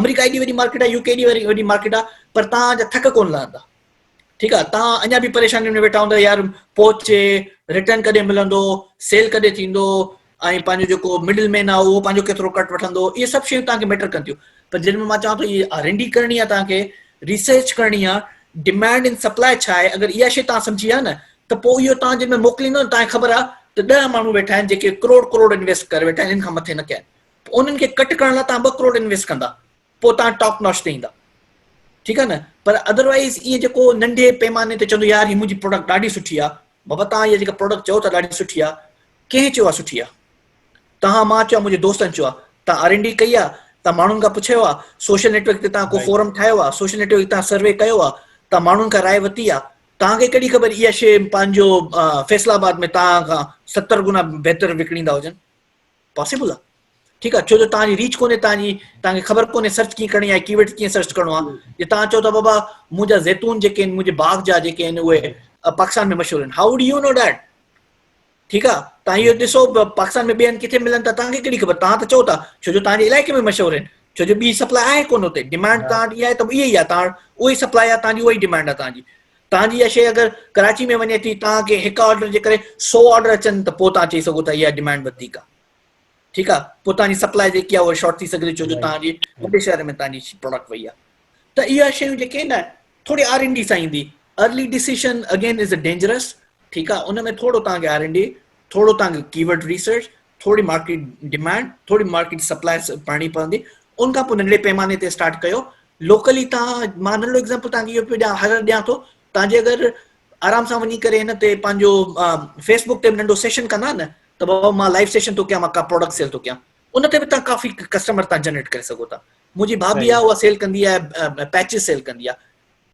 آمريڪا ايڏي وڏي مارڪيٽ آ يو ڪي ايڏي وڏي مارڪيٽ آ پر توهان جا ٿڪ ڪون لهندا ٺيڪ آ توهان اڃا به پريشانين ۾ ويٺا هوندا يار پهچي رٽرن ڪڏهن ملندو سيل ڪڏهن ٿيندو ۽ پنهنجو جيڪو مڊل مين آ اهو پنهنجو کيترو ڪٽ وٺندو اهي سڀ شيون توهان کي ميٽر ڪن ٿيون پر جن ۾ مان چوان ٿو اهي آر اين ڊي ڪرڻي آ توهان کي ريسرچ ڪرڻي آ ڊيمانڊ ان سپلاء ڇا آهي اگر اها شيء توهان سمجهي آ نه ته پوء اهو توهان جن ۾ موڪليندو توهان کي خبر آ ته ڏهه ماڻهو ويٺا آهن جيڪي ڪروڙ ڪروڙ انويسٽ ڪري ويٺا آهن ان کان مٿي نه ڪيا آهن پوء انهن کي ڪٽ ڪرڻ لاء توهان ٻه ڪروڙ انويسٽ ڪندا پوء توهان ٽاپ نوچ تي ايندا ٺيڪ آهي نه پر ادروائيز ايئن جيڪو ننڍي پيماني تي چوندو يار هي منهنجي پروڊڪٽ ڏاڍي سٺي آهي بابا توهان هي جيڪا پروڊڪٽ چئو ٿا ڏاڍي سٺي آهي ڪنهن چيو آهي سٺي آهي توهان مان چيو منهنجي دوستن چيو آهي توهان آر اين ڊي ڪئي آهي توهان ماڻهن کان پڇيو آهي سوشل نيٽورڪ تي توهان ڪو فورم ٺاهيو آهي سوشل نيٽورڪ تي توهان سروي ڪيو آهي توهان ماڻهن کان راء ورتي آهي توهان کي ڪهڙي خبر اها شي پنهنجو فيصل آباد ۾ توهان کان ستر گنا بهتر وڪڻيندا هجن پاسيبل آ ٺيڪ آ ڇو جو توهان جي ريچ ڪونهي توهان جي توهان کي خبر ڪونهي سرچ ڪيئن ڪرڻي آهي ڪيورڊ ڪيئن سرچ ڪرڻو آ جي توهان چئو ٿا بابا منهنجا زيتون جيڪي آهن منهنجي باغ جا جيڪي آهن اهي پاڪستان ۾ مشهور آهن how do you know that ٺيڪ آ توهان اهو ڏسو پاڪستان ۾ ٻين ڪٿي ملن ٿا توهان کي ڪهڙي خبر توهان ته چئو ٿا ڇو جو توهان جي علائقي ۾ مشهور آهن ڇو جو ٻي سپلاء آهي ڪونه اتي ڊيمانڊ توهان وٽ اها آهي ته اها ئي آ توهان وٽ اها ئي سپلاء آ توهان جي اها ئي ڊيمانڊ آ توهان جي توهان جي اها شيء اگر ڪراچي ۾ وڃي ٿي توهان کي هڪ آرڊر جي ڪري سؤ آرڊر اچن ته پوء توهان چئي سگهو ٿا اها ڊمانڊ وڌيڪ آهي ٺيڪ آهي پوء توهان جي سپلاء جيڪي آهي اها شارٽ ٿي سگهندي ڇو جو توهان جي وڏي شهر ۾ توهان جي پروڊڪٽ وئي آهي ته اها شيون جيڪي آهن نه ٿوري آر اين ڊي سان ايندي early decision again is a dangerous ٺيڪ آهي ان ۾ ٿورو توهان کي آر اين ڊي ٿورو توهان کي ڪيورڊ ريسرچ ٿوري مارڪيٽ ڊمانڊ ٿوري مارڪيٽ سپلاء پڙهڻي پوندي ان کان پوء ننڍڙي پيماني تي اسٽارٽ ڪيو لوڪلي تان مان ننڍڙو ايگزامپل تان کي اهو پيو ڏيان هر ڏيان ٿو تان جي اگر آرام سان وڃي ڪري هن تي پنهنجو فيسبوڪ تي ننڍو سيشن ڪندا نه ته بابا مان لائيو سيشن ٿو ڪيان مان ڪا پروڊڪٽ سيل ٿو ڪيان ان تي به تان ڪافي ڪسٽمر تان جنريٽ ڪري سگهو ٿا منهنجي ڀاڀي آهي اها سيل ڪندي آهي پيچز سيل ڪندي آهي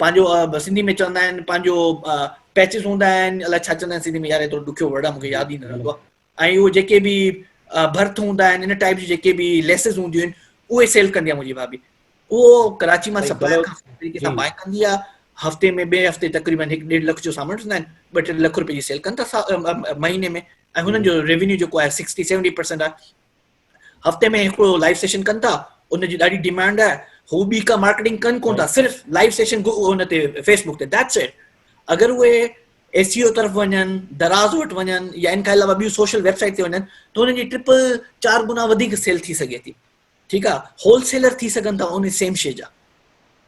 پنهنجو سنڌي ۾ چوندا آهن پنهنجو پيچز هوندا آهن الاء ڇا چوندا آهن سنڌي ۾ يار ايترو ڏکيو ورڊ آهي مونکي ياد ئي نه رهندو آهي ۽ اهي جيڪي به برٿ هوندا آهن ان ٽائيپ جي جيڪي به ليسز هونديون آهن اهي سيل ڪندي آهي منهنجي ڀاڀي اهو ڪراچي مان سپلاء کان طريقي سان بائي ڪندي آهي هفتي ۾ ٻئي هفتي تقريبن هڪ ڏيڍ لک جو سامان وٺندا آهن ٻه ٽي لک روپيه جي سيل ڪن ٿا مهيني ۾ ۽ هنن جو ريونيو جيڪو آهي سڪسٽي سيونٽي پرسينٽ آهي هفتي ۾ هڪڙو لائيو سيشن ڪن ٿا ان جي ڏاڍي ڊيمانڊ آهي هو ٻي ڪا مارڪيٽنگ ڪن ڪون ٿا صرف لائيو سيشن ان تي فيس بڪ تي ديٽس اٽ اگر اهي ايس سي او طرف وڃن دراز وٽ وڃن يا ان کان علاوه ٻيون سوشل ويب سائيٽ تي وڃن ته انهن جي ٽرپل چار گنا وڌيڪ سيل ٿي سگهي ٿي ٺيڪ آ هول سيلر ٿي سگهن ٿا ان سيم شي جا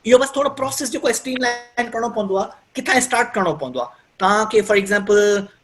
اهو بس ٿورو پروسيس جيڪو اسٽريم لائن ڪرڻو پوندو آ ڪٿان اسٽارٽ ڪرڻو پوندو آ توهان کي فار ايگزامپل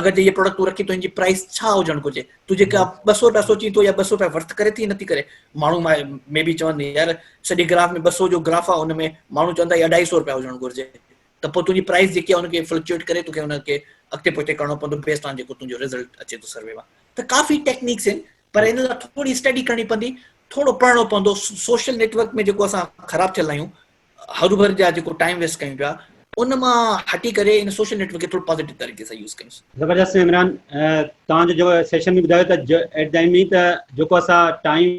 اگر جي اهي پروڊڪٽ تون رکين ته ان جي پرائس ڇا هجڻ گهرجي تو جيڪا ٻه سؤ رپيا سوچين ٿو يا ٻه سؤ رپيا ورٿ ڪري ٿي يا نٿي ڪري ماڻهو مي بي چون يار سڄي گراف ۾ ٻه سؤ جو گراف آهي ان ۾ ماڻهو چون ٿا هي اڍائي سؤ رپيا هجڻ گهرجي ته پوء تنهنجي پرائس جيڪي آهي ان کي فلڪچوئيٽ ڪري توکي ان کي اڳتي پوئتي ڪرڻو پوندو بيسڊ آن جيڪو تنهنجو رزلٽ اچي ٿو سروي مان ته ڪافي ٽيڪنيڪس آهن پر ان لاء ٿوري اسٽڊي ڪرڻي پوندي ٿورو پڙهڻو پوندو سوشل نيٽورڪ ۾ جيڪو اسان خراب ٿيل آهيون هروڀرو جا جيڪو ٽائيم ويسٽ ڪيون پيا ان مان هٽي ڪري ان سوشل نيٽ ورڪ کي ٿورو پازيٽو طريقي سان يوز ڪيون زبردست عمران تان جو جو سيشن ۾ ٻڌايو ته ايٽ دائين مين ته جيڪو اسا ٽائيم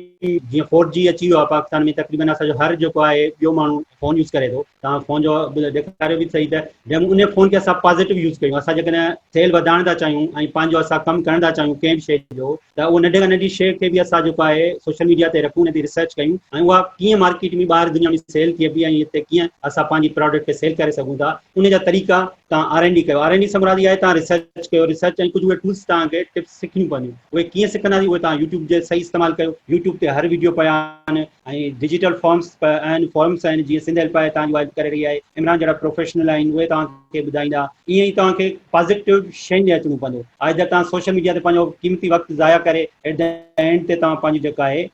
جي 4G اچي ويو آ پاڪستان ۾ تقريبن اسا جو هر جيڪو آهي ٻيو ماڻهو فون يوز ڪري ٿو تان فون جو ڏيکاريو به صحيح ته جيڪو ان فون کي اسا پازيٽو يوز ڪيون اسا جيڪڏهن سيل وڌائڻ ٿا چاهيون ۽ پنهنجو اسا ڪم ڪرڻ ٿا چاهيون ڪنهن به شيء جو ته اهو ننڍي کان ننڍي شيء کي به اسان جيڪو آهي سوشل ميڊيا تي رکون ان تي ريسرچ ڪيون ۽ اها ڪيئن مارڪيٽ ۾ ٻاهر دنيا ۾ سيل ٿئي بي ۽ هتي ڪيئن اسان پنهنجي پراڊڪٽ کي سيل ڪري سگهون ٿا ان جا طريقا تان آر اين ڊي ڪيو آر اين ڊي سان مراد اها آهي تان ريسرچ ڪيو ريسرچ ۽ ڪجهه اهي ٽولس تان کي ٽپس سکڻيون پونديون اهي ڪيئن سکنداسين اهي تان يوٽيوب جي صحيح استعمال ڪيو يوٽيوب تي هر ويڊيو پيا آهن ۽ ڊجيٽل فارمس به اهن فورمس آهن جيئن سنڌ هيلپ آهي توهان جي واعد ڪري رهي آهي عمران جهڙا پروفيشنل آهن اهي توهان کي ٻڌائيندا ائين ئي توهان کي پازيٽو شين ڏي اچڻو پوندو آئدر توهان سوشل ميڊيا تي پنهنجو قيمتي وقت ضايع ڪري ايٽ دي اينڊ تي توهان پنهنجي جيڪا آهي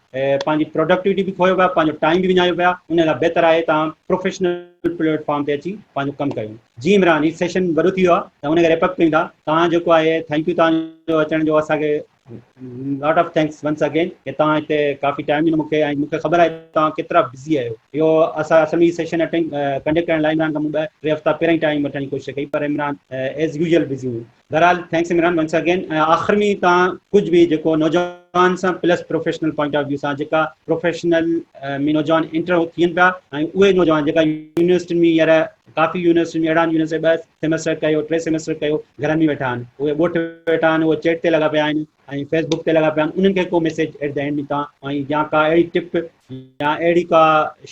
پنهنجي پروڊڪٽيوٽي به کويو پيا پنهنجو ٽائيم به وڃايو پيا ان لاء بهتر آهي توهان پروفيشنل پليٽ فارم تي اچي پنهنجو ڪم ڪيو جي عمران هي سيشن وڏو ٿي ويو آهي ته هن کي ريپ اپ ڪيون ٿا توهان جيڪو آهي ٿينڪ يو توهان جو اچڻ جو اسان کي lot of thanks once again ڪي توهان هتي ڪافي ٽائيم ڏنو مونکي ۽ مونکي خبر آهي توهان ڪيترا بزي آهيو اهو اسان اصل ۾ سيشن اٽينڊ ڪنڊڪٽ ڪرڻ لاء عمران کان مون ٻه ٽي هفتا پهرين ٽائيم وٺڻ جي ڪوشش ڪئي پر عمران ايز يوزل بزي هو بهرحال ٿينڪس عمران ونس اگين ۽ آخر ۾ توهان ڪجهه به جيڪو نوجوان سان plus professional point of view سان جيڪا پروفيشنل ۾ نوجوان انٽر ٿين پيا ۽ اهي نوجوان جيڪا يونيورسٽين ۾ هينئر ڪافي يونيورسٽين ۾ اهڙا يونيورسٽين بس سيمسٽر ڪيو ٽي سيمسٽر ڪيو گهرن ۾ ويٺا آهن اهي ڳوٺ ويٺا آهن اهي چيٽ تي لڳا پيا آهن ۽ فيس بڪ تي لڳا پيا آهن انهن کي ڪو ميسيج ايٽ دي اينڊ ۾ توهان ۽ يا ڪا اهڙي ٽپ يا اهڙي ڪا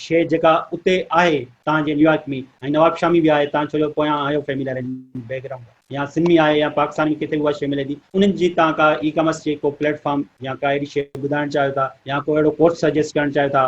شيء جيڪا اتي آهي توهان جي نيويارڪ ۾ ۽ نواب شامي به آهي توهان ڇو جو پويان آهيو فيملي ارينجمينٽ بيڪ گرائونڊ يا سنڌ ۾ آهي يا پاڪستان ۾ ڪٿي به اها شيء ملي ٿي انهن جي توهان ڪا اي ڪامرس جي ڪو پليٽ فارم يا ڪا اهڙي شيء ٻڌائڻ چاهيو ٿا يا ڪو اهڙو ڪورس سجيسٽ ڪرڻ چاهيو ٿا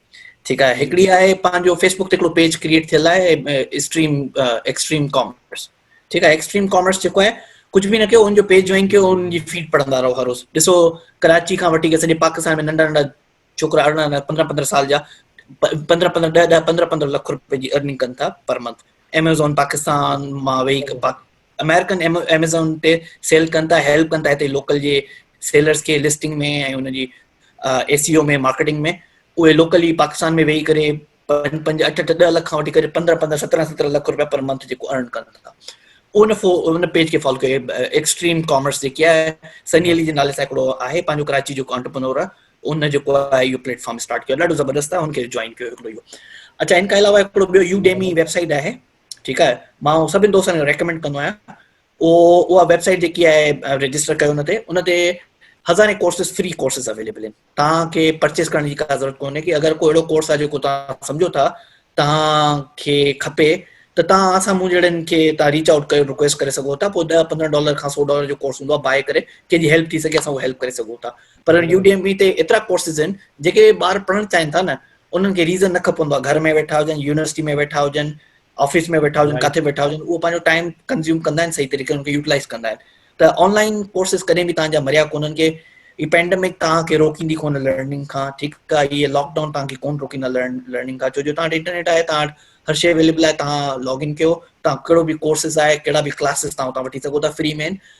ٺيڪ آهي هڪڙي آهي پنهنجو فيسبوڪ تي هڪڙو پيج ڪرييٽ ٿيل آهي اسٽريم ايڪسٽريم ڪامرس ٺيڪ آهي ايڪسٽريم ڪامرس جيڪو آهي ڪجهه به نه ڪيو ان جو پيج جوائن ڪيو ان جي فيڊ پڙهندا رهو هر روز ڏسو ڪراچي کان وٺي سڄي پاڪستان ۾ ننڍا ننڍا ڇوڪرا ارڙهن ارڙهن پندرهن پندرهن سال جا پندرهن پندرهن ڏهه ڏهه پندرهن پندرهن لک روپيه جي ارننگ ڪن ٿا پر منٿ ايميزون پاڪستان مان ويهي امريڪن ايميزون تي سيل ڪن ٿا هيلپ ڪن ٿا هتي لوڪل جي سيلرز کي لسٽنگ ۾ ۽ ان جي اي سي او ۾ مارڪيٽنگ ۾ اهي لوڪل ئي پاڪستان ۾ ويهي ڪري پنج پنج اٺ اٺ ڏهه لک کان وٺي ڪري پندرهن پندرهن سترهن سترهن لک روپيا پر منٿ جيڪو ارن ڪن ٿا ان فو ان پيج کي فالو ڪيو ايڪسٽريم ڪامرس جيڪي آهي سني علي جي نالي سان هڪڙو آهي پنهنجو ڪراچي جو آنٽرپرنور آهي ان جيڪو آهي اهو پليٽ فارم اسٽارٽ ڪيو ڏاڍو زبردست آهي ان کي جوائن ڪيو هڪڙو اهو اچھا ان کان علاوه هڪڙو ٻيو يو ڊيمي ويب سائيٽ آهي ٺيڪ آهي مان اهو سڀني دوستن کي ريڪمينڊ ڪندو آهيان اهو اها ويب سائيٽ جيڪي آهي رجسٽر ڪيو ان تي ان تي هزارين ڪورسز فري ڪورسز اويليبل آهن تان کي پرچيز ڪرڻ جي ڪا ضرورت ڪونهي ڪي اگر ڪو اهڙو ڪورس آهي جيڪو تان سمجھو ٿا تان کي کپي ته تان اسان مون جهڙن کي تان ريچ آؤٽ ڪري رڪويسٽ ڪري سگھو ٿا پوء 10 15 ڊالر کان 100 ڊالر جو ڪورس هوندو آهي بائي ڪري ڪنهن جي هيلپ ٿي سگھي اسان هو هيلپ ڪري سگھو ٿا پر يو ڊي ايم اي تي ايترا ڪورسز آهن جيڪي ٻار پڙهڻ چاهين ٿا نه انهن کي ريزن نه کپندو آهي گهر ۾ ويٺا هجن يونيورسٽي ۾ ويٺا هجن آفيس ۾ ويٺا هجن ڪاٿي ويٺا هجن اهو پنهنجو ٽائيم ڪنزيوم ڪندا آهن صحيح طريقي سان يوٽيلائز ڪندا آهن ته آنلائن ڪورسز ڪڏهن به تانجا مريا ڪونن ڪي هي پينڊمڪ تان کي روڪيندي ڪون لرننگ کان ٺيڪ آهي هي لاڪ ڊائون تان کي ڪون روڪيندا لرننگ کان ڇو جو تان انٽرنيٽ آهي تان هر شيء اويليبل آهي تان لاگ ان ڪيو تان ڪهڙو به ڪورسز آهي ڪهڙا به ڪلاسز تان تان وٺي سگهو ٿا فري مين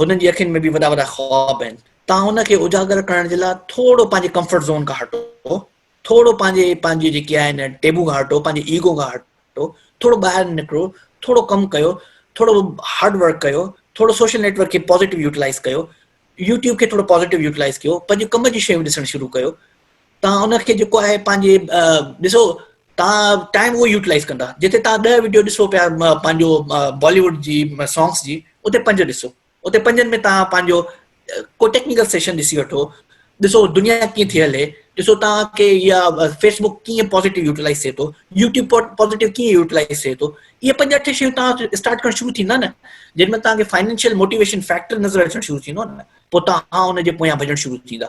هنن جي اکين ۾ به وڏا وڏا خواب آهن. توهان ان کي اجاگر ڪرڻ جي لاء ٿورو پنهنجي ڪمفرٽ زون کان هٽو، ٿورو پنهنجي پنهنجي جيڪي آهن ٽيبو کان هٽو، پنهنجي ايگو کان هٽو، ٿورو ٻاهر نڪرو، ٿورو ڪم ڪيو، ٿورو هارڊ ورڪ ڪيو، ٿورو سوشل نيٽ ورڪ کي پازيٽو يوٽيلائيز ڪيو، يوٽيوب کي ٿورو پازيٽو يوٽيلائيز ڪيو، پنهنجي ڪم جي شيون ڏسڻ شروع ڪيو، توهان ان کي جيڪو آهي پنهنجي ڏسو توهان ٽائيم اهو يوٽلائز ڪندا جتي توهان ڏهه وڊيو ڏسو پيا پنهنجو بالي ووڊ جي سانگس جي اتي پنج ڏسو اتي پنجن ۾ توهان پنهنجو ڪو ٽيڪنيڪل سيشن ڏسي وٺو ڏسو دنيا ڪيئن ٿي هلي ڏسو توهان کي يا فيس بڪ ڪيئن پازيٽو يوٽلائز ٿئي ٿو يوٽيوب پازيٽو ڪيئن يوٽلائز ٿئي ٿو اهي پنج اٺ شيون توهان اسٽارٽ ڪرڻ شروع ٿيندا نه جن ۾ توهان کي فائنينشل موٽيويشن فيڪٽر نظر اچڻ شروع ٿيندو نه پوء توهان ان جي پويان ڀڄڻ شروع ٿيندا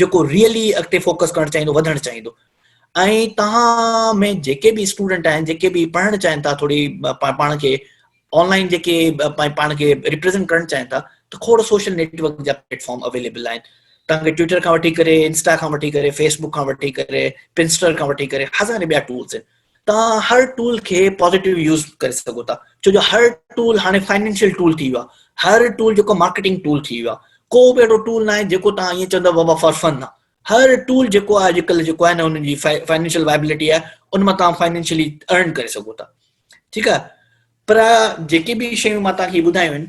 جيڪو ريئلي اڳتي فوڪس ڪرڻ چاهيندو وڌڻ چاهيندو ۽ توهان ۾ جيڪي به اسٽوڊنٽ آهن جيڪي به پڙهڻ چاهين ٿا ٿوري پاڻ کي آنلائن جيڪي پاڻ کي ريپريزنٽ ڪرڻ چاهين ٿا ته کوڙ سوشل نيٽورڪ جا پليٽ فارم اويليبل آهن توهان کي ٽوئٽر کان وٺي ڪري انسٽا کان وٺي ڪري فيسبوڪ کان وٺي ڪري پنسٽر کان وٺي ڪري هزارين ٻيا ٽولس آهن توهان هر ٽول کي پازيٽو يوز ڪري سگهو ٿا ڇو جو هر ٽول هاڻي فائنينشل ٽول ٿي ويو آهي هر ٽول جيڪو مارڪيٽنگ ٽول ٿي ويو آهي ڪو به اهڙو ٽول نه آهي جيڪو توهان ائين چوندو بابا فار فن آهي هر ٽول جيڪو آهي اڄڪلهه جيڪو آهي نه ان جي فائنينشل وائبلٽي آهي ان مان توهان فائنينشلي ارن ڪري سگهو ٿا ٺيڪ آهي پر جيڪي به شيون مان توهان کي ٻڌايون آهن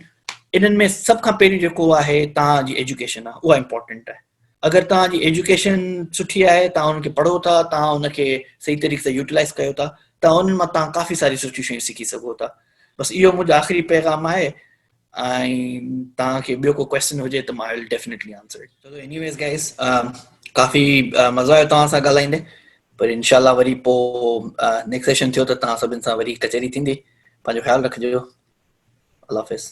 انهن ۾ سڀ کان پهريون جيڪو آهي توهان جي ايجوڪيشن آهي اها امپورٽنٽ آهي اگر توهان جي ايجوڪيشن سٺي آهي توهان ان کي پڙهو ٿا توهان ان کي صحيح طريقي سان يوٽيلائز ڪيو ٿا ته انهن مان توهان ڪافي ساري سٺيون شيون سکي سگهو ٿا بس اهو منهنجو آخري پيغام آهي ۽ توهان کي ٻيو ڪو ڪويسچن هجي ته مان I will definitely answer it so anyways guys ڪافي مزو آيو توهان سان ڳالهائيندي پر انشاء الله وري پو نيڪسٽ سيشن ٿيو ته توهان سڀن سان وري ڪچهري ٿيندي پنهنجو خيال رکجو الله حافظ